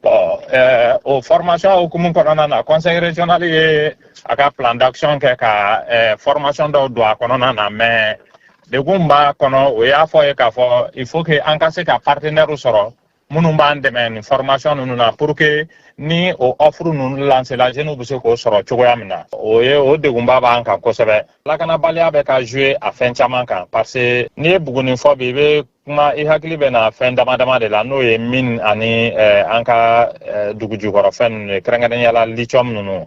Bon, euh, o formation hukumu kɔnɔna na conseil régional ye a ka plan d'action kɛ ka euh, formation dɔw don a kɔnɔna na mais degun b'a kɔnɔ o y'a fɔ ye k'a fɔ il faut que an ka se ka partenaire sɔrɔ minnu b'an dɛmɛ nin formation ninnu na pour que ni o offre ninnu lancela jeunes bɛ se k'o sɔrɔ cogoya min na o ye o degunba b'an kan kosɛbɛ lakanabaliya bɛ ka jouer a fɛn caman kan parce que n'i ye buguni fɔ bi i bɛ kuma i hakili bɛ na fɛn dama dama de la n'o ye mine ani eh, an ka eh, dugujukɔrɔ fɛn ninnu ye kɛrɛnkɛrɛnnenya la lithium ninnu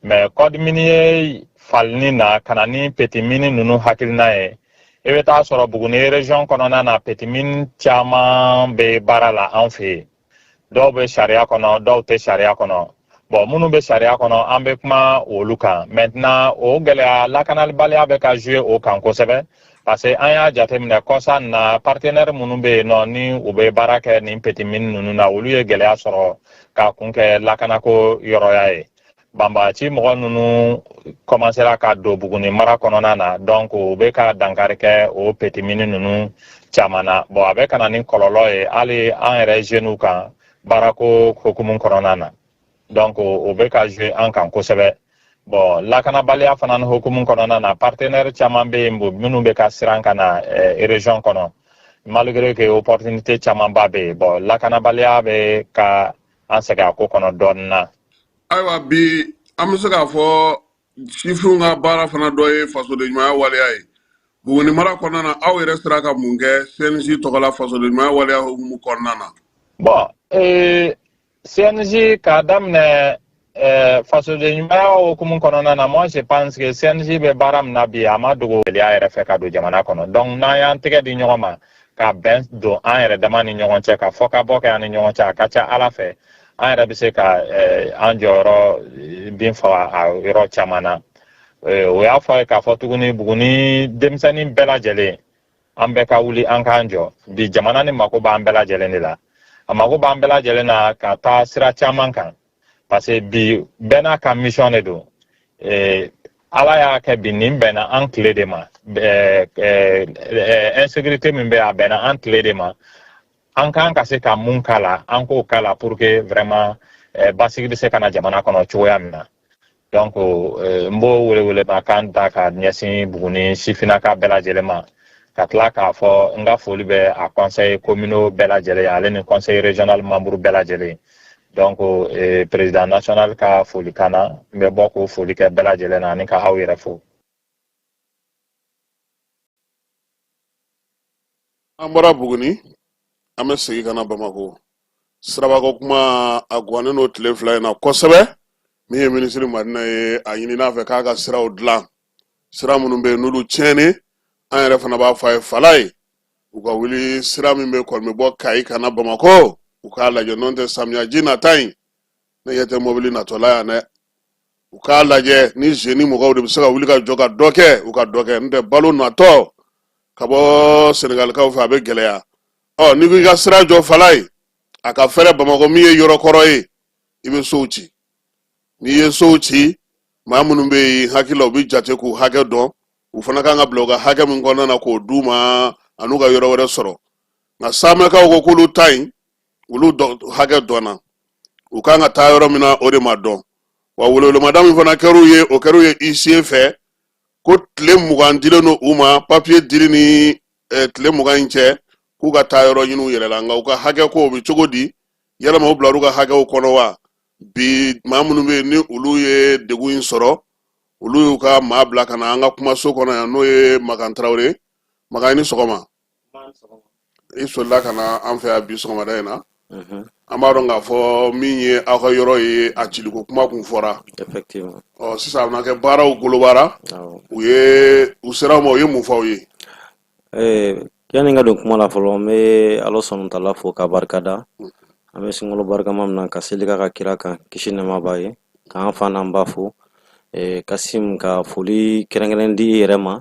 mais code minier ye falini na ka na ni petit mine ninnu hakilina ye i bɛ taa sɔrɔ buguni région kɔnɔna na petit mine caman bɛ baara la an fɛ yen dɔw bɛ sariya kɔnɔ dɔw tɛ sariya kɔnɔ bon minnu bɛ sariya kɔnɔ an bɛ kuma olu kan maintenant o gɛlɛya lakanabaliya bɛ ka jouer o kan kosɛbɛ parce que an y'a jateminɛ kɔsa in na partenaire minnu bɛ yen nɔ ni u bɛ baara kɛ nin petit mine ninnu na olu ye gɛlɛya sɔrɔ k'a kun kɛ lakanako yɔrɔya ye banbagaci mɔgɔ ninnu kɔmansera ka don buguni mara kɔnɔna na donc u bɛ ka dankari kɛ o petit mine ninnu caman na bon a bɛ ka na ni kɔlɔlɔ ye hali an yɛrɛ jeunes kan baarako hukumu kɔnɔna na donc o bɛ ka jouer an kan kosɛbɛ bon lakanabaliya fana ni hukumu kɔnɔna na partenaire caman bɛ yen minnu bɛ ka siran ka na eh, région kɔnɔ malgré que opportunité camanba bɛ yen bon lakanabaliya bɛ ka an sɛgɛn a ko kɔnɔ dɔɔnin na ayiwa bi an bɛ se k'a fɔ sifinw ka baara fana dɔ ye fasodenɲumanya waleya ye buguni mara kɔnɔna na aw yɛrɛ sera ka mun kɛ CNJ tɔgɔ la fasodenɲumanya waleya hukumu kɔnɔna na bon ee CNJ k'a daminɛ Ɛɛ fasodenɲumanya hukumu kɔnɔna na moi je pense que CNJ bɛ baara min na bi a ma dogo gɛlɛya yɛrɛ fɛ ka don jamana kɔnɔ donc n'an y'an tɛgɛ di ɲɔgɔn ma ka bɛn don an yɛrɛ dama ni ɲɔgɔn cɛ ka fɔkabɛn kɛ an ni ɲɔgɔn cɛ a ka ca ala fɛ an yɛrɛ bɛ se ka eh, an jɔyɔrɔ eh, bin faga a yɔrɔ caman na eh, o y'a fɔ ye k'a fɔ tuguni buguni denmisɛnnin bɛɛ lajɛlen an bɛɛ ka wuli an k'an jɔ bi jamana nin mako b'an bɛɛ lajɛlen de la a mako b'an bɛɛ lajɛlen na ka taa sira caman kan parce que bi bɛɛ n'a ka mission de don eh, ala y'a kɛ bi nin bɛnna an tile de ma eh, eh, eh, insécurité min bɛ a bɛnna an tile de ma an ka kan ka se ka mun k'a la an k'o k'a la pour que vraiment eh, basigi bɛ se ka na jamana kɔnɔ cogoya min na donc n b'o welewelema kan ta ka ɲɛsin buguni sifinaka bɛɛ lajɛlen ma ka tila k'a fɔ n ka foli bɛ a conseil communaux bɛɛ lajɛlen ye ale ni conseil régional membre bɛɛ lajɛlen ye donc eh, président national ka foli kan na n bɛ bɔ k'o foli kɛ bɛɛ lajɛlen na ani ka aw yɛrɛ fo an bɔra buguni an bɛ segin ka na bamakɔ sirabako kuma a guwanen don tile fila in na kosɛbɛ min ye minisiri madina ye a ɲinin'a fɛ k'a ka siraw dilan sira minnu bɛ yen n'olu tiɲɛni an yɛrɛ fana b'a fɔ a ye falayi u ka wuli sira min bɛ kɔni bɛ bɔ kayi ka na bamakɔ u k'a lajɛ n'o tɛ samiyaji nata in ne ɲɛ tɛ mɔbili natɔ la yan dɛ u k'a lajɛ ni zeni mɔgɔw de bɛ se ka wuli ka jɔ ka dɔ kɛ u ka dɔ kɛ n'o tɛ balo natɔ ka bɔ senegalikaw fɛ a bɛ gɛlɛya ɔ n'i ko i ka sira jɔ falayi a ka fɛrɛ bamakɔ min ye yɔrɔ kɔrɔ ye i bɛ sow ci n'i ye sow ci maa minnu bɛ yen n hakili la u bɛ jate k'u hakɛ dɔn u fana kan ka bila u ka hakɛ min kɔnɔna na k'o d'u ma an'u ka yɔrɔ wɛrɛ sɔrɔ nka samɛkaw ko k'olu ta yen olu hakɛ dɔnna u kan ka taa yɔrɔ min na o de ma dɔn wa welewelemada min fana kɛr'u ye o kɛr'u ye isiye fɛ ko tile mugan dilen don u ma papiye dili ni eh, tile mugan in cɛ k'u ka taa yɔrɔ ɲini u yɛrɛ la nka u ka hakɛ ko o bɛ cogo di yalama u bilar'u ka hakɛw kɔnɔ wa bi maa minnu bɛ yen ni olu ye degun in sɔrɔ olu y'u ka maa bila ka na an ka kumaso kɔnɔ yan n'o ye makan tarawele makan i ni sɔgɔma i solila ka na an fɛ yan bi sɔgɔmada in na an b'a dɔn k'a fɔ min ye aw ka yɔrɔ ye a ciliko kuma kun fɔra ɔ sisan a bɛna kɛ baaraw bolodara u ye u ser'aw ma u ye mun f'aw ye yanni n ka don kuma la fɔlɔ n bɛ ala subahana taala fo k'a barika da an bɛ sunkalo barikama min na ka seli ka kira kan kisi nɛɛma b'a ye k'an fa n'an ba fo kasim ka foli kɛrɛnkɛrɛn di i yɛrɛ ma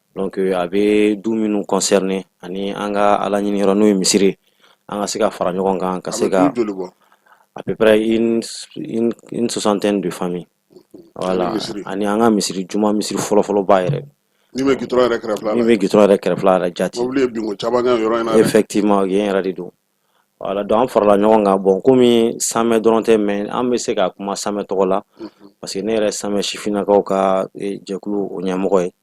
Donc euh, a bɛ du minnu concerner ani an ka Ala ɲini yɔrɔ n'o ye misiri ye, an ka se ka fara ɲɔgɔn kan ka se ka du joli bɔ? à peu près une une une soixantaine de familles voilà misiri. ani an ka misiri juma misiri fɔlɔfɔlɔba yɛrɛ Min bɛ gitɔrɔn yɛrɛ kɛrɛfɛla la. min bɛ gitɔrɔn yɛrɛ kɛrɛfɛla yɛrɛ jati Mobili ye binko caman kɛ yɔrɔ in na dɛ. effectivement yen yɛrɛ de don voilà donc an farala ɲɔgɔn kan bon komi samɛ dɔrɔn tɛ mais an bɛ se ka kuma samɛ tɔgɔ la parce que ne yɛrɛ samɛ sifinnakaw ka eh, jɛkulu o ɲɛmɔgɔ ye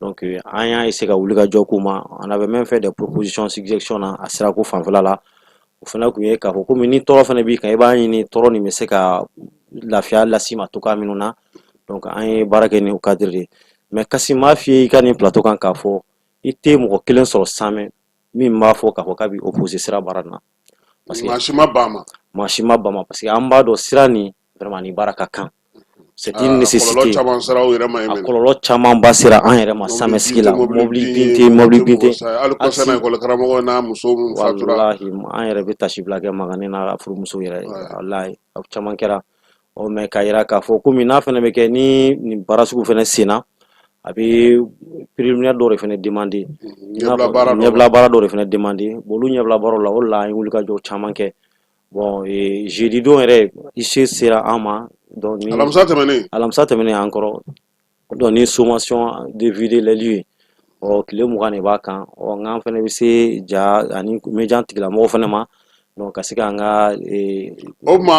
donc an y'a essayer ka wuli ka jɔ comme on avait même fait des propositions suggestions na a sirako fanfɛla la o fana tun ye k'a fɔ komi ni tɔɔrɔ fana b'i kan i b'a ɲini tɔɔrɔ nin bɛ se ka lafiya las'i ma cogoya minnu na donc an ye baara kɛ ni o cadre de ye mais kasim n b'a f'i ye i ka nin plateau kan k'a fɔ i tɛ mɔgɔ kelen sɔrɔ samɛ min b'a fɔ k'a fɔ k'a bɛ opposé sira baara na parce que maa si ma ban a ma maa si ma ban a ma parce que an b'a dɔn sira nin vraiment ni baara ka kan c'est une ah, nécessité a kɔlɔlɔ caman ba sera an yɛrɛ ma samiyɛ sigi la mobili bin tɛ mobili bin tɛ walahi an yɛrɛ bɛ tasibila kɛ Magani n'a furumuso yɛrɛ walahi a caman kɛra ɔ mais k'a yira k'a fɔ komi n'a fana bɛ kɛ ni nin baara sugu fana senna a bɛ préliminaire dɔw de fana demander ɲɛbila baara dɔw de fana demander olu ɲɛbila baaraw la o de la an ye wulikajɔ caman kɛ Bon jeudi don yɛrɛ huissier sera an ma alamisa tɛmɛnen alamisa tɛmɛnen an kɔrɔ donc ni sommation de vider les lieux ɔ tile mugan de b'a kan ɔ n'an fana bɛ se ja ani média tigilamɔgɔ fana ma donc ka se k'an ka o tuma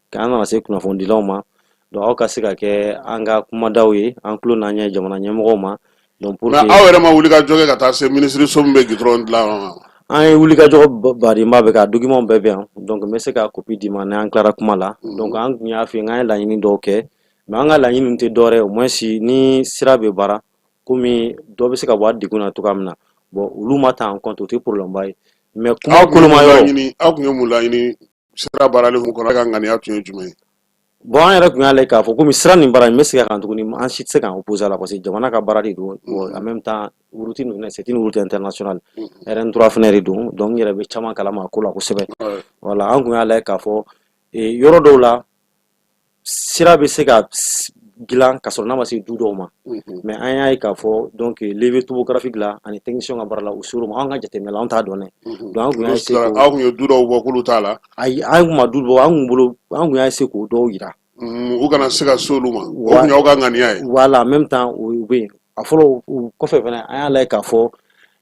k'an nana se kunnafonidilaw ma donc aw ka se ka kɛ an ka kumadaw ye an tulo n'an ɲɛ jamana ɲɛmɔgɔw ma donc pour nka aw yɛrɛ ma wulikajɔ kɛ ka taa se minisiriso min bɛ gudɔrɔn dilan yɔrɔ ma an ye wulikajɔ badenba bɛ ka dokimanw bɛɛ bɛ yan donc n bɛ se ka kopi d'i ma n'an tilara kuma la mhm. donc an tun y'a f'i ye k'an ye laɲini dɔw kɛ mais an ka laɲini tɛ dɔwɛrɛ ye au moins ni sira bɛ baara komi dɔ bɛ se ka bɔ a degun na cogoya min na bon olu ma ta en compte o tɛ problème ba ye mais kuma koloma yɔrɔ aw tun ye mun laɲini sira baarali hukumu kɔnɔ ka ŋaniya tun ye jumɛn ye bon an yɛrɛ tun y'a lajɛ k'a fɔ komi sira nin baara in bɛ segin a kan tuguni an si tɛ se k'an opposer a la parce que jamana ka baara de don en même temps route ninnu c'est une route internationale RN trois fana de don donc n yɛrɛ bɛ caman kalama a ko la kosɛbɛ voilà an tun y'a lajɛ k'a fɔ yɔrɔ dɔw la sira bɛ se ka dilan ka sɔrɔ n'a ma se du dɔw ma mais an y'a ye k'a fɔ donc levé topographique la ani technicien ka baara la u ser'o ma an ka jateminɛ la an t'a dɔn dɛ an tun y'a essayer aw ye du dɔw bɔ k'olu t'a la ayi an tun ma du bɔ an tun bolo an tun y'a essayer k'o dɔw jira u kana se ka se olu ma aw ka ŋaniya ye voilà en même temps o bɛ yen a fɔlɔ o kɔfɛ fana an y'a lajɛ k'a fɔ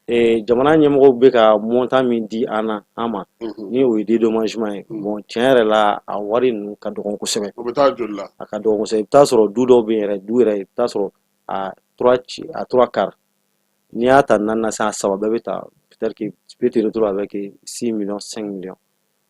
Ee jamana ɲɛmɔgɔw bɛ ka montant min di an na an ma unhun ni o ye dédommagement ye unhun bon tiɲɛ yɛrɛ la a wari ninnu ka dɔgɔn kosɛbɛ o bɛ taa joli la a ka dɔgɔn kosɛbɛ i bɛ taa sɔrɔ du dɔw bɛ yen yɛrɛ du yɛrɛ i bɛ taa sɔrɔ a trois ci a trois quarts n'i y'a ta naani na sisan a saba bɛɛ bɛ ta peut-être que tu peux te retrouver avec 6 millions 5 millions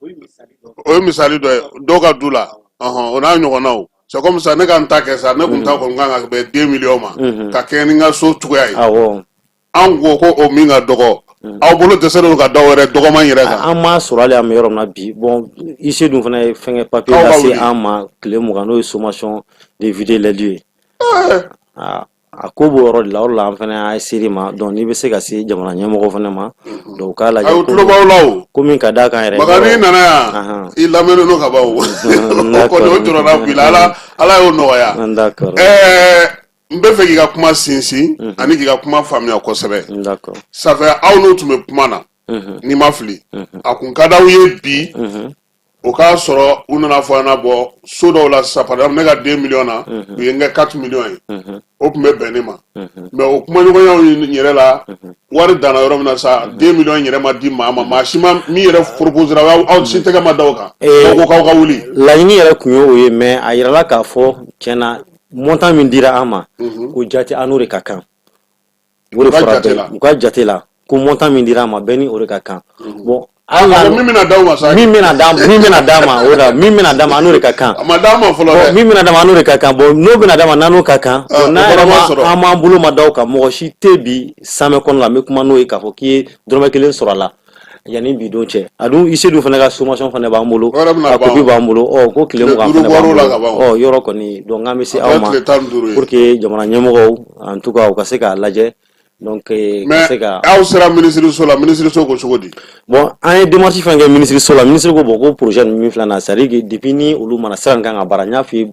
o ye misali dɔ ye dɔw ka du la o n'a ɲɔgɔnnaw c'est comme ça ne ka n ta kɛ sa ne kun ta kɔni kan ka bɛn deux millions ma ka kɛɲɛ ni n ka so cogoya ye an ko ko o min ka dɔgɔ aw bolo dɛsɛlen ka dɔ wɛrɛ dɔgɔman yɛrɛ kan an m'a sɔrɔ hali an bɛ yɔrɔ min na bi bon huissier dun fana ye fɛngɛ papier lase an ma tile mugan n'o ye sommation de vider les lieux ye A ko b'o yɔrɔ de la o de la an fana ser'i ma donc n'i bɛ se ka se jamana ɲɛmɔgɔ fana ma donc u k'a lajɛ Aw tulo b'aw la o. ko min ka d'a kan yɛrɛ Makan n'i nana yan Anhan. i lamɛnnen don ka ban o. N O kɔni o jɔrɔna b'i la Ala Ala y'o nɔgɔya. N d'accord Ɛɛ n b'a fɛ k'i ka kuma sinsin ani k'i ka kuma faamuya kosɛbɛ. n d'accord Ça fait aw n'u tun bɛ kuma na Mhm. n'i ma fili. A kun ka d'aw ye bi o k'a sɔrɔ u nana fɔ an na bɔ so dɔw la sa par exemple ne ka deux millions na u ye n kɛ quatre millions ye o tun bɛ bɛn ne ma mais o kumaɲɔgɔnyaw yɛrɛ la wari danna yɔrɔ min na sa deux millions yɛrɛ ma di maa ma maa si ma min yɛrɛ proposera aw si tɛgɛ ma da o kan ko k'aw ka wuli laɲini yɛrɛ tun ye o ye mais a yirala k'a fɔ tiɲɛ na montant min dira an ma ko jate an n'o de ka kan O de fɔra bɛɛ ye u ka jate la ko montant min dira an ma bɛɛ ni o de ka kan mhm. bon ah, min bɛna d'aw ma sa min bɛna d'a ma min bɛna d'a ma o la min bɛna d'a ma an n'o de ka kan a ma d'a ma fɔlɔ dɛ min bɛna d'a ma an n'o de ka kan bon n'o bɛna d'a ma n'an n'o ka kan ah, n'a yɛrɛ ma an m'an bolo ma da o kan mɔgɔ si tɛ bi samɛ kɔnɔ la n bɛ kuma n'o ye k'a fɔ k'i ye dɔrɔmɛ kelen sɔrɔ a la yanni bi don cɛ a dun huissier dun fana ka sommation fana b'an bolo a copie b'an bolo ɔ ko tile mugan fana b'an bolo ɔ yɔrɔ kɔni donc k'an bɛ se aw ma pour que jamana ɲɛmɔgɔw en tout cas u ka se k'a lajɛ donc ka se ka aw sera minisiriso la minisiriso ko cogo di bon an ye démarche fɛn kɛ minisiriso la minisiri ko bon ko projet ninnu min filɛ nin ye c'est à dire que depuis ni olu mana sira in kan ka baara n y'a f'i ye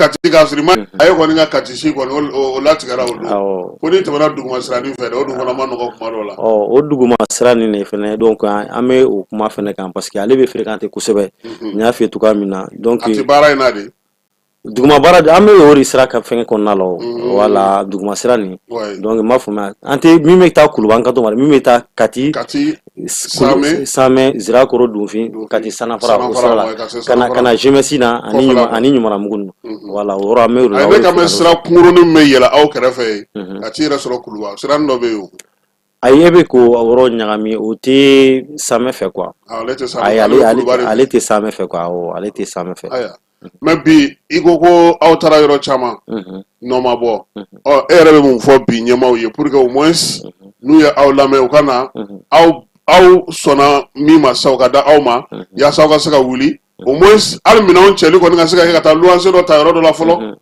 kati k'a sɔrɔ i ma a ye kɔni ka kati si kɔni o- o o latigɛra o don awɔ ko n'i tɛmɛna duguma siranin fɛ dɛ o dun fana man nɔgɔ kuma dɔw la ɔ o duguma sira nin de fɛnɛ donc an an bɛ o kuma fɛnɛ kan parce que ale bɛ fréquenter kosɛbɛ n y'a f'i ye cogoya min na donc a tɛ baara in na de duguma baara de- an bɛ o de sira ka fɛngɛ kɔnɔna la o wala duguma sira nin Ouais. donc n b'a faamuya an tɛ min bɛ taa kuluba an kan t'o ma dɛ, min bɛ taa kati kati sirakɔrɔ dunfin kati sananfara ka na jemɛsi na ani ani ɲɔmiranbugu ninnu wala o yɔrɔ an bɛ o de la sira kunkurunin bɛ yɛlɛ aw kɛrɛfɛ yen ka t'i yɛrɛ sɔrɔ kuluba sira dɔ bɛ yen ayi e bɛ k'o yɔrɔ ɲagami o tɛ samɛ fɛ quoi ale tɛ samɛ fɛ ale tɛ samɛ fɛ mais bi i ko ko aw taara yɔrɔ caman nɔ ma bɔ e yɛrɛ bɛ mun fɔ bi ɲɛmaaw ye pour que au moins n'u ye aw lamɛn u ka na aw sɔnna min ma sa u ka da aw ma yaasa aw ka se ka wuli au moins hali minɛnw cɛli kɔni ka se ka kɛ ka taa luwanse dɔ ta yɔrɔ dɔ la fɔlɔ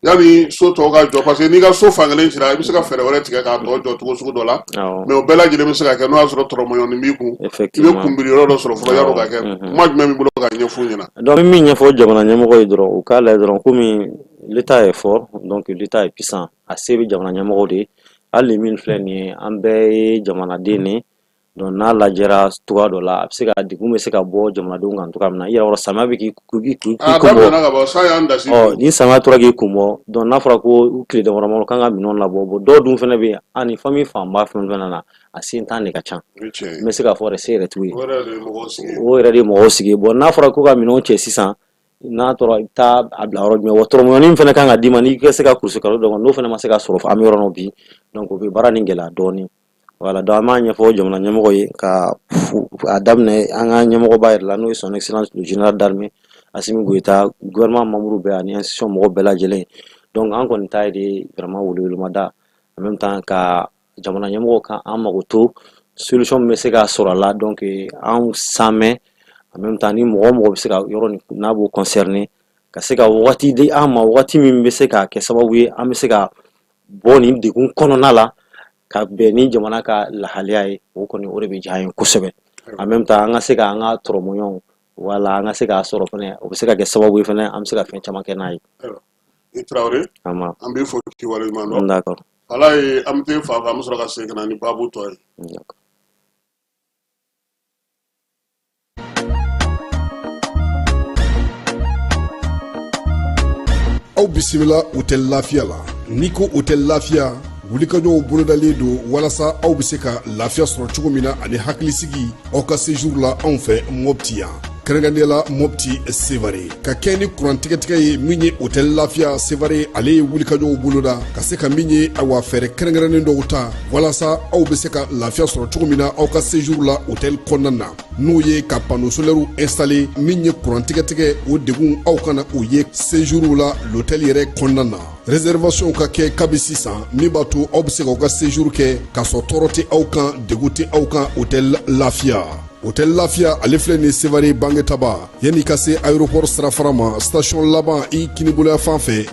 Yanni so tɔw ka jɔ parce que n'i ka so fan kelen cira i bɛ se ka fɛɛrɛ wɛrɛ tigɛ k'a tɔ jɔ cogo sugu dɔ la mais o bɛɛ lajɛlen bɛ se ka kɛ n'o y'a sɔrɔ tɔrɔmɔɲɔnin b'i kun i bɛ kunbiri yɔrɔ dɔ sɔrɔ fɔlɔ yann'o ka kɛ kuma jumɛn b'i bolo ka ɲɛf'u ɲɛna donc min ɲɛfɔ jamana ɲɛmɔgɔ ye dɔrɔn u k'a lajɛ dɔrɔn kɔmi l'état est fort donc l'état est puissant a se bɛ jamana ɲɛmɔgɔw de ye hali min filɛ nin ye an bɛɛ ye jamanaden de Donc n'a lajɛra cogoya dɔ la a bɛ se ka degun bɛ se ka bɔ jamanadenw kan cogoya min na yɔrɔ samiya bɛ k'i ni samiya tora k'i kun bɔ donc n'a fɔra ko tile damadamanin kan ka minɛnw labɔ dɔw dun fana bɛ yen ani famille fanba fɛn fɛn na a setan de ka ca n bɛ se k'a fɔ se yɛrɛ t'u ye o yɛrɛ de ye mɔgɔw sigi bon n'a fɔra ko ka minɛnw cɛ sisan n'a tora i bɛ taa a bila yɔrɔ jumɛn tɔrɔmɔɲɔnin fana kan ka d'i ma n'i ka se ka kulu kalo donc n'o fana ma se ka sɔrɔ an bɛ yɔrɔ min bi o bɛ baara nin gɛlɛya dɔɔnin voilà donc an b'a ɲɛfɔ jamana ɲɛmɔgɔ ye ka a daminɛ an ka ɲɛmɔgɔba yɛrɛ la n'o ye son excellence général d'armée Assimi Goïta gouvernement membre bɛɛ ani institution mɔgɔ bɛɛ lajɛlen donc an kɔni ta ye de vraiment welewelemada en même temps ka jamana ɲɛmɔgɔ kan an mago to solution min bɛ se ka sɔrɔ a la donc an san mɛn en même temps ni mɔgɔ o mɔgɔ bɛ se ka yɔrɔ n'a b'o concerné ka se ka waati di an ma waati min bɛ se ka kɛ sababu ye an bɛ se ka bɔ nin degun kɔnɔna la ka bɛn ni jamana ka lahaliya ye o kɔni o de bɛ diya an ye kosɛbɛ en même temps an ka se ka an ka tɔrɔmɔɲɔgɔnw wala an ka se k'a sɔrɔ fɛnɛ o bɛ se ka kɛ sababu ye fɛnɛ an bɛ se ka fɛn caman kɛ n'a ye i tarawele an b'i fo k'i waleɲuman dɔn ala ye an bɛ fa an bɛ sɔrɔ ka segin ka na ni baabu tɔ ye aw bisimila hôtel lafiya la n'i ko hôtel lafiya wulikajɔw bolodalen don walasa aw bɛ se ka lafiya sɔrɔ cogo min na ani hakilisigi aw ka séjour la anw fɛ mɔpti yan kɛrɛnkɛrɛnnenya la mɔpti sevare ka kɛɲɛ ni kurantigɛtigɛ ye min ye hôtel lafiya sevare ale ye wulikajɔw boloda ka se ka min ye awa fɛɛrɛ kɛrɛnkɛrɛnnen dɔw ta walasa aw bɛ se ka lafiya sɔrɔ cogo min na aw ka séjour la hôtel kɔnɔna na n'o ye ka panneau solairew installé min ye kuran tigɛtigɛ o degun aw kana o ye séjourw la l'hôtel yɛrɛ kɔnɔna na réservation ka kɛ kabi sisan min b'a to aw bɛ se k'aw ka séjour kɛ k'a sɔrɔ tɔɔrɔ tɛ aw kan degun tɛ aw kan hôtel lafiya hôtel lafiya ale filɛ nin sevare bangetaba yanni ka se aéroport sirafara ma station laban i kininbolo yanfan fɛ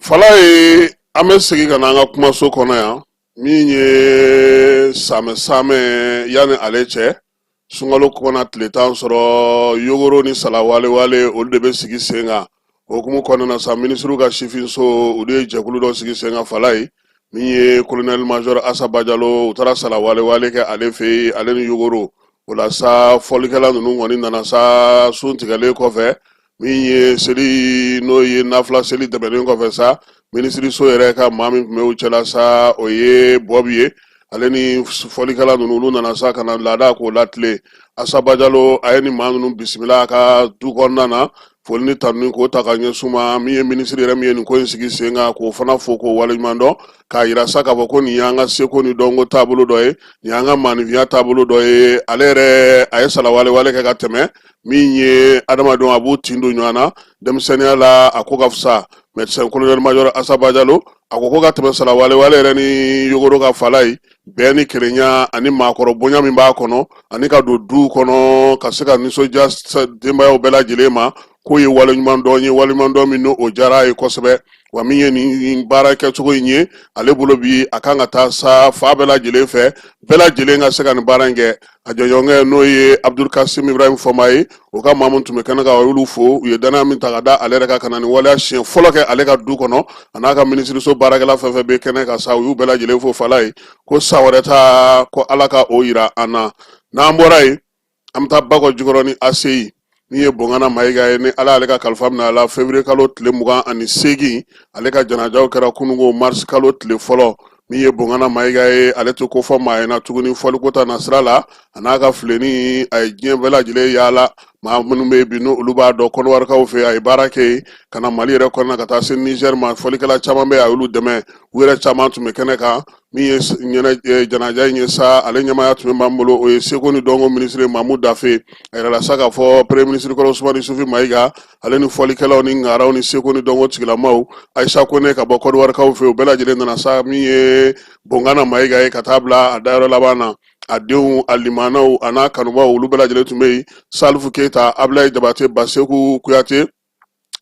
Falaye an bɛ segin ka na an ka kumaso kɔnɔ yan min ye samɛ samɛ yanni ale cɛ sunkalo kɔnɔna tile tan sɔrɔ yogoro ni salawalewale olu de bɛ sigi sen kan o hukumu kɔnɔna sa minisiriw ka sifinso u de ye jɛkulu dɔ sigi sen kan Falaye min ye colonel major asa bajalo u taara salawalewale kɛ ale fɛ yen ale ni yogoro o la sa fɔlikɛla ninnu kɔni nana sa sun tigɛlen kɔfɛ min ye seli n'o ye nafila seli tɛmɛnen kɔfɛ sa minisiriso yɛrɛ ka maa min tun bɛ u cɛla sa o ye bɔbi ye ale ni fɔlikɛla ninnu olu nana sa ka na laada k'o latilen asa bajalo a ye nin maa ninnu bisimila a ka du kɔnɔna na foli ni tanuni k'o ta ka ɲɛsin ma min ye minisiri yɛrɛ min ye nin ko in sigi sen kan k'o fana fo k'o waleɲuman dɔn k'a yira sa k'a fɔ ko nin y'an ka seko ni dɔnko taabolo dɔ ye nin y'an ka maanifinya taabolo dɔ ye ale yɛrɛ a ye salawalewale kɛ ka tɛmɛ min ye adamadenw a b'u tin don ɲɔgɔn na denmisɛnninya la a ko ka fisa médecin colonel major asa bajalo a ko ko ka tɛmɛ salawale wale yɛrɛ ni yogoro ka fala ye bɛn ni kelenya ani maakɔrɔ bonya min b'a kɔnɔ ani ka don duw kɔnɔ ka se ka nisɔndiya denbayaw bɛɛ lajɛlen ma k'o ye waleɲuman dɔn ye waleɲuman dɔn min n'o diyara a ye kosɛbɛ wa min ye nin baara kɛcogo in ye ale bolo bi a kan ka taa sa fan bɛɛ lajɛlen fɛ bɛɛ lajɛlen ka se ka nin baara in kɛ a jɛɲɔgɔnkɛ n'o ye abudul kasim ibrahim fɔnba ye o ka maa min tun bɛ kɛnɛ kan a y'olu fo u ye dannaya min ta ka da ale yɛrɛ kan ka na nin waleya siɲɛ fɔlɔ kɛ ale ka du kɔnɔ a n'a ka minisiriso baarakɛla fɛn fɛn bɛ kɛnɛ kan sa u y'u bɛɛ lajɛlen fo fala ye ko san wɛrɛ ta ko ala ka o yira an na n'an bɔra yen an bɛ taa bakɔ jikɔrɔni aseyi min ye bongana mayiga ye ni ala y'ale ka kalifa mina a la février kalo tile mugan ani seegin ale ka janajaw kɛra kunungo mars kalo tile fɔlɔ min ye bongana mayiga ye ale tɛ kofɔ maa ye na tuguni fɔliko ta nasira la a n'a ka filenin a ye diɲɛ bɛɛ lajɛlen yaala maa minnu bɛ bi n'olu b'a dɔn kɔnɔwarikaw fɛ a ye baara kɛ yen ka na mali yɛrɛ kɔnɔna ka taa se nizɛri ma fɔlikɛla caman bɛ a y'olu dɛmɛ u yɛrɛ caman tun bɛ kɛnɛ kan min ye janaja in ye sa ale ɲɛmaaya tun bɛ min bolo o ye seko ni dɔnko minisiri mamu dafe a yirala sa k'a fɔ premye minisiri kɔrɔ usumani isufi mayiga ale ni fɔlikɛlaw ni ŋaraw ni seko ni dɔnko tigilamaw ayisa kone ka bɔ kɔdiwarikaw fɛ u bɛɛ lajɛlen nana sa min ye bongana mayiga ye ka taa bila a dayɔrɔ laban na a denw a limaanaw a n'a kanubaw olu bɛɛ lajɛlen tun bɛ yen salifu keyita abilayi jabate baseku kuyate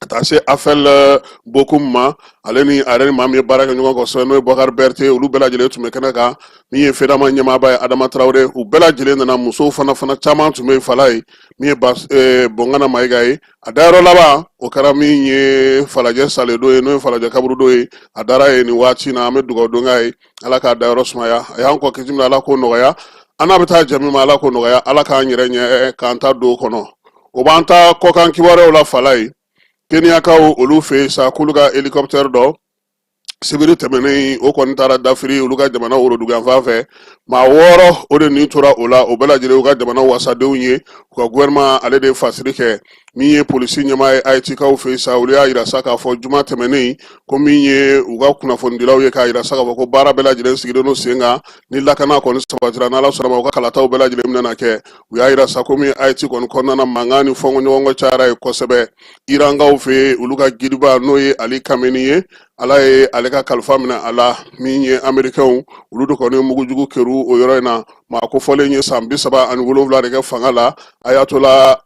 ka taa se afɛl eh, bokum ma ale ni a yɛrɛ ni maa min ye baara kɛ ɲɔgɔn kosɛbɛ n'o ye bakari bɛrite olu bɛɛ lajɛlen tun bɛ kɛnɛ kan min ye fedama ɲɛmaaba ye adama tarawele u bɛɛ lajɛlen nana musow fana fana caman tun bɛ yen fala ye min ye eh, bongana mayiga ye a dayɔrɔ laban o kɛra min ye falajɛ saledo ye n'o ye falajɛ kaburudo ye a dara yen nin waati na an bɛ dugawu don k'a ye ala k'a dayɔrɔ sumaya a y'an kɔ kisi min ala k'o nɔgɔya an n'a bɛ taa jɛ min ma ala k'o nɔgɔya ala k'an yɛrɛ ɲɛ k'an ta don kɔnɔ o b'an ta kɔkan kibaruyaw la fala ye keniyakaw olu fɛ yen sa k'olu ka hélicoptère dɔ sibiri tɛmɛnen o kɔni taara dafiri olu ka jamana woroduganfan fɛ maa wɔɔrɔ o de ni tora o la o bɛɛ lajɛlen u ka jamana wasadenw ye u ka gouvernement ale de fasiri kɛ min ye polisi ɲɛmaa ye ayitikaw fɛ sa olu y'a jira sa k'a fɔ juma tɛmɛnen ko min ye u ka kunnafonidilaw ye k'a jira sa k'a fɔ ko baara bɛɛ lajɛlen sigilen don sen kan ni lakana kɔni sabatira n'ala sɔnna ma u ka kalataw bɛɛ lajɛlen bɛna kɛ u y'a yira sa ko min ye ayiti kɔni kɔnɔna na mankan ni fɔnkɔɲɔgɔnkɔ cayara yen kosɛbɛ irankaw fɛ olu ka gidiba n'o ye ali kameni ye ala ye ale ka kalifa minɛ a la min ye amerikɛnw olu de kɔni mugujugu kerun o yɔrɔ in na maa kofɔlen ye san bi saba ani wolonwula de kɛ fanga la ayatola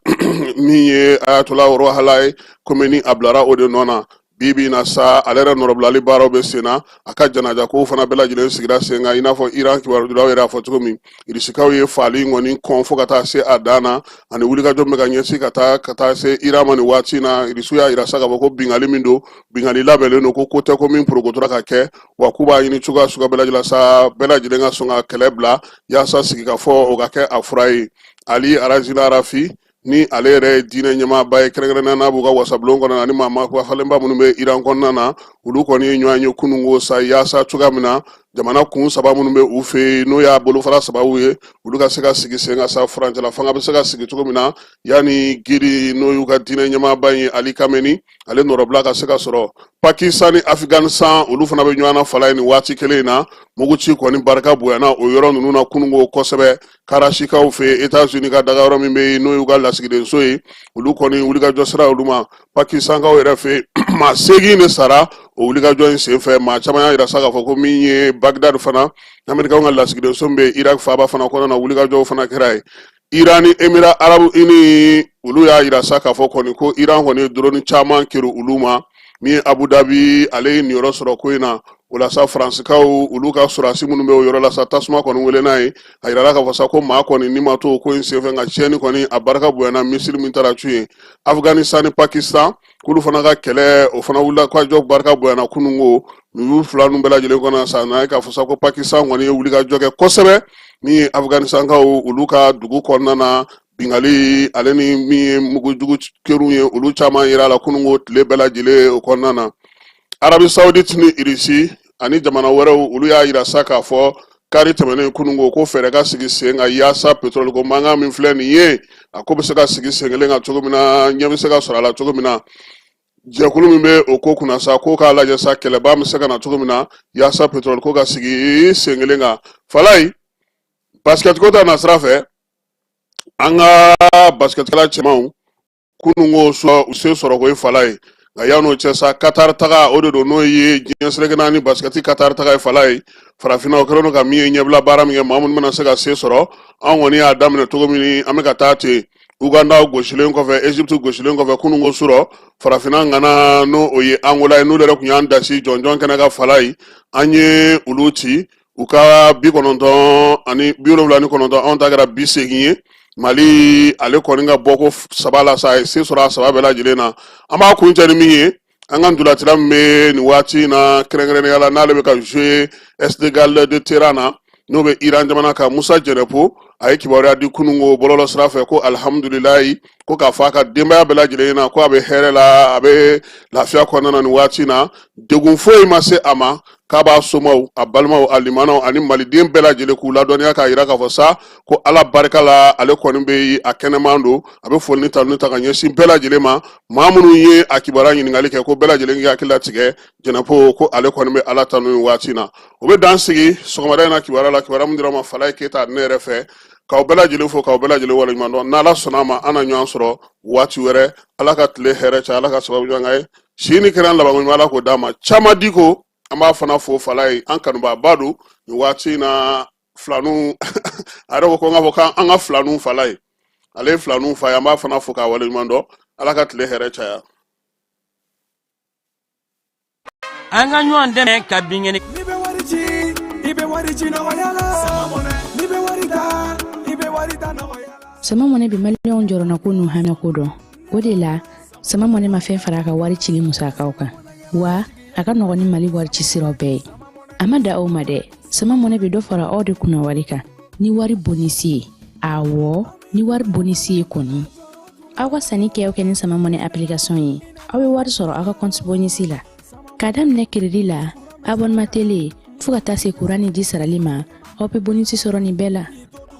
min ye ayatola rohalayi komeni a bilara o de nɔ na bi bi in na sa ale yɛrɛ nɔrɔbilali baaraw bɛ sen na a ka janaja kow fana bɛɛ lajɛlen sigira sen kan i n'a fɔ iran kibarudilaw yɛrɛ y'a fɔ cogo min irisikaw ye faali in kɔni kɔn fo ka taa se a dan na ani wulikajɔ bɛ ka ɲɛsin ka taa ka taa se iran ma nin waati in na irisiw y'a yira sa k'a fɔ ko bingali min don bingali labɛnnen don ko ko tɛ ko min porokotora ka kɛ wa k'u b'a ɲini cogoya suguya bɛɛ lajɛlen sa bɛɛ lajɛlen ka sɔn ka kɛlɛ bila yaasa sigikafɔ o ka kɛ a fura ye ali arazila arafi ni ale yɛrɛ ye diinɛ ɲɛmaaba ye kɛrɛnkɛrɛnnenya n'a b'u ka wasabulon kɔnɔ ani maa maa falenba minnu bɛ iran kɔnɔna na olu kɔni ye ɲɔgɔn ye kununko sa yaasa cogoya min na jamana kun saba minnu bɛ u fɛ yen n'o y'a bolofara saba ye olu ka se ka sigi sen kan sa furancɛla fanga bɛ se ka sigi cogo min na yanni guide n'o y'u ka diinɛ ɲɛmaaba ye ali kameni ale nɔrɔbila ka se ka sɔrɔ pakistan ni afghanistan olu fana bɛ ɲɔgɔn na falayi nin waati kelen in na muguci kɔni barika bonyana o yɔrɔ ninnu na kununko kosɛbɛ karashikaw fɛ yen etats unis ka daga yɔrɔ min bɛ yen n'o y'u ka lasigidenso ye olu kɔni wulikajɔ sera olu ma pakistankaw yɛrɛ fɛ yen maa seegin de sara o wulikajɔ in senfɛ maa caman y'a yira sa k'a fɔ ko min ye bagdad fana amerikaw ka lasigidenso min bɛ yen irak faaba fana kɔnɔna na wulikajɔw fana kɛra yen iran ni emira arabu ini olu y'a yira sa k'a fɔ kɔni ko iran kɔni ye doroni caman kerun olu ma min ye abu dabi ale ye niyɔrɔ sɔrɔ ko in na o la sa faransikaw olu ka sɔrɔdasi minnu bɛ o yɔrɔ la sa tasuma kɔni wulila yen a yirala k'a fɔ sa ko maa kɔni ni ma to ko in senfɛ nka tiɲɛni kɔni a barika bonyana misili min taara cun yen afganistan ni pakistan k'olu fana ka kɛlɛ o fana wulikajɔ barika bonyana kununko nin fila ninnu bɛɛ lajɛlen kɔnɔ sa n'a ye k'a fɔ sa ko pakistan kɔni ye wulikajɔ kɛ kosɛbɛ min ye afganistankaw olu ka dugu kɔnɔna na bingali ale ni min ye mugujugu kerun ye olu caman yirala kununko tile bɛɛ lajɛlen o kɔnɔna na arabi saudite ni irisi ani jamana wɛrɛw olu y'a yira sa k'a fɔ kari tɛmɛnen kununko ko fɛɛrɛ ka sigi sen kan yaasa petroli ko mankan min filɛ nin ye a ko bɛ se ka sigi sen kelen kan cogo min na ɲɛ bɛ se ka sɔrɔ a la cogo min na jɛkulu min bɛ o ko kunna sa ko k'a lajɛ sa kɛlɛba bɛ se ka na cogo min na yaasa petroli ko ka sigi sen kelen kan falayi basikɛtiko ta nasira fɛ an ka basikɛtila cɛmanw kununko surɔ u se sɔrɔ ko ye falayi nka yan'o cɛ sa katari taga o de don n'o ye diɲɛ seleke naani basikɛti katari taga ye falayi farafinna o kɛlen don ka min ye ɲɛbila baara min kɛ maa minnu bɛna se ka se sɔrɔ an kɔni y'a daminɛ cogo min an bɛ ka taa ten uganda gosilen kɔfɛ egypte gosilen kɔfɛ kununko surɔ farafinna ŋana n'o o ye angola ye n'olu yɛrɛ tun y'an dasi jɔnjɔn kɛnɛ kan falayi an ye olu ci u ka bi kɔnɔntɔn ani bi wolonwula ni kɔnɔntɔn anw ta kɛra bi segin ye mali ale kɔni ka bɔ ko saba la sa a ye se sɔrɔ a saba bɛɛ lajɛlen na an b'a kuncɛ ni min ye an ka ntolatila min bɛ nin waati in na kɛrɛnkɛrɛnnenya la n'ale bɛ ka jouer esteghlal de téhéran na n'o bɛ iran jamana kan musa jɛnɛpo a ye kibaruya di kunun ko bɔlɔlɔ sira fɛ ko alihamudulilayi ko k'a fɔ a ka denbaya bɛɛ lajɛlen na ko a bɛ hɛrɛ la a bɛ lafiya kɔnɔna na nin waati in na degun foyi ma se a ma k'a b'a somaw a balimaw a limanaw ani maliden bɛɛ lajɛlen k'u ladɔnniya k'a yira k'a fɔ sa ko ala barika la ale kɔni bɛ a kɛnɛman don a bɛ foli ni tanuni ta ka ɲɛsin bɛɛ lajɛlen ma maa minnu ye a kibaruya ɲininkali kɛ ko bɛɛ lajɛlen k'i hakili latigɛ jɛnɛpo ko ale kɔni bɛ ala tanu nin waati na o bɛ dan sigi sɔgɔmada in na kibaruya la kibaruya min dira ma falaye keyita ne yɛrɛ fɛ k'aw bɛɛ lajɛlen fo k'aw bɛɛ lajɛlen waleɲuman dɔn n'ala sɔnna a ma an na ɲɔgɔn sɔrɔ waati wɛrɛ ala ka tile hɛrɛ caya ala ka sababu ɲɔgɔn ye si ni kɛnɛya labankoɲuman ala k'o d'a ma caman di ko an b'a fana fo falaye an kanubaaba don nin waati in na filanu a yɛrɛ ko ko n k'a fɔ k'an ka filanu falaye ale ye filanu fa ye an b'a fana fo k'a waleɲuman dɔn ala ka tile hɛrɛ caya an ka ɲɔgɔn dɛmɛ ka binkɛnɛ n'i bɛ wari ci i bɛ wari ci nɔgɔya la n'i bɛ wari ta i bɛ wari ta nɔgɔya la sama mɔnɛ bi maliyɛnw jɔrɔnako n'u hamiko dɔn o de la sama mɔnɛ ma fɛn fara a ka wari cili musakaw kan wa a ka nɔgɔn ni mali wari ci siraw bɛɛ ye a ma dan o ma dɛ sama mɔnɛ bɛ dɔ fara aw de kunna wari kan ni wari bonisi ye awɔ ni wari bonisi ye kɔni aw ka sanni kɛ aw kɛ ni sama mɔnɛ application ye aw bɛ wari sɔrɔ aw ka kɔnti bonisi la k'a daminɛ kiridi la abɔnema tele fɔɔ ka taa se kuran ni ji sarali ma aw bɛ bonisi sɔrɔ nin bɛɛ la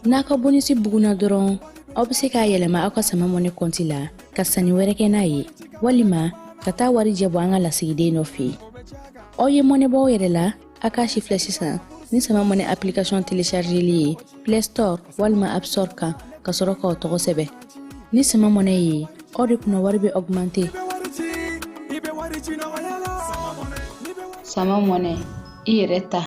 n'a ka bonisi bugunna dɔrɔn aw bɛ se k'a yɛlɛma aw ka sama mɔnɛ kɔnti la ka sanni wɛrɛ kɛ n'a ye walima ka taa warijɛ bɔ an ka lasigiden dɔ fɛ yen aw ye mɔnɛ bɔ aw yɛrɛ la a k'a sifilɛ sisan ni sama mɔnɛ application telechargeli ye play store walima app store kan ka sɔrɔ k'aw tɔgɔ sɛbɛn ni sama mɔnɛ ye aw de kunna wari bɛ augmente sama mɔnɛ i yɛrɛ ta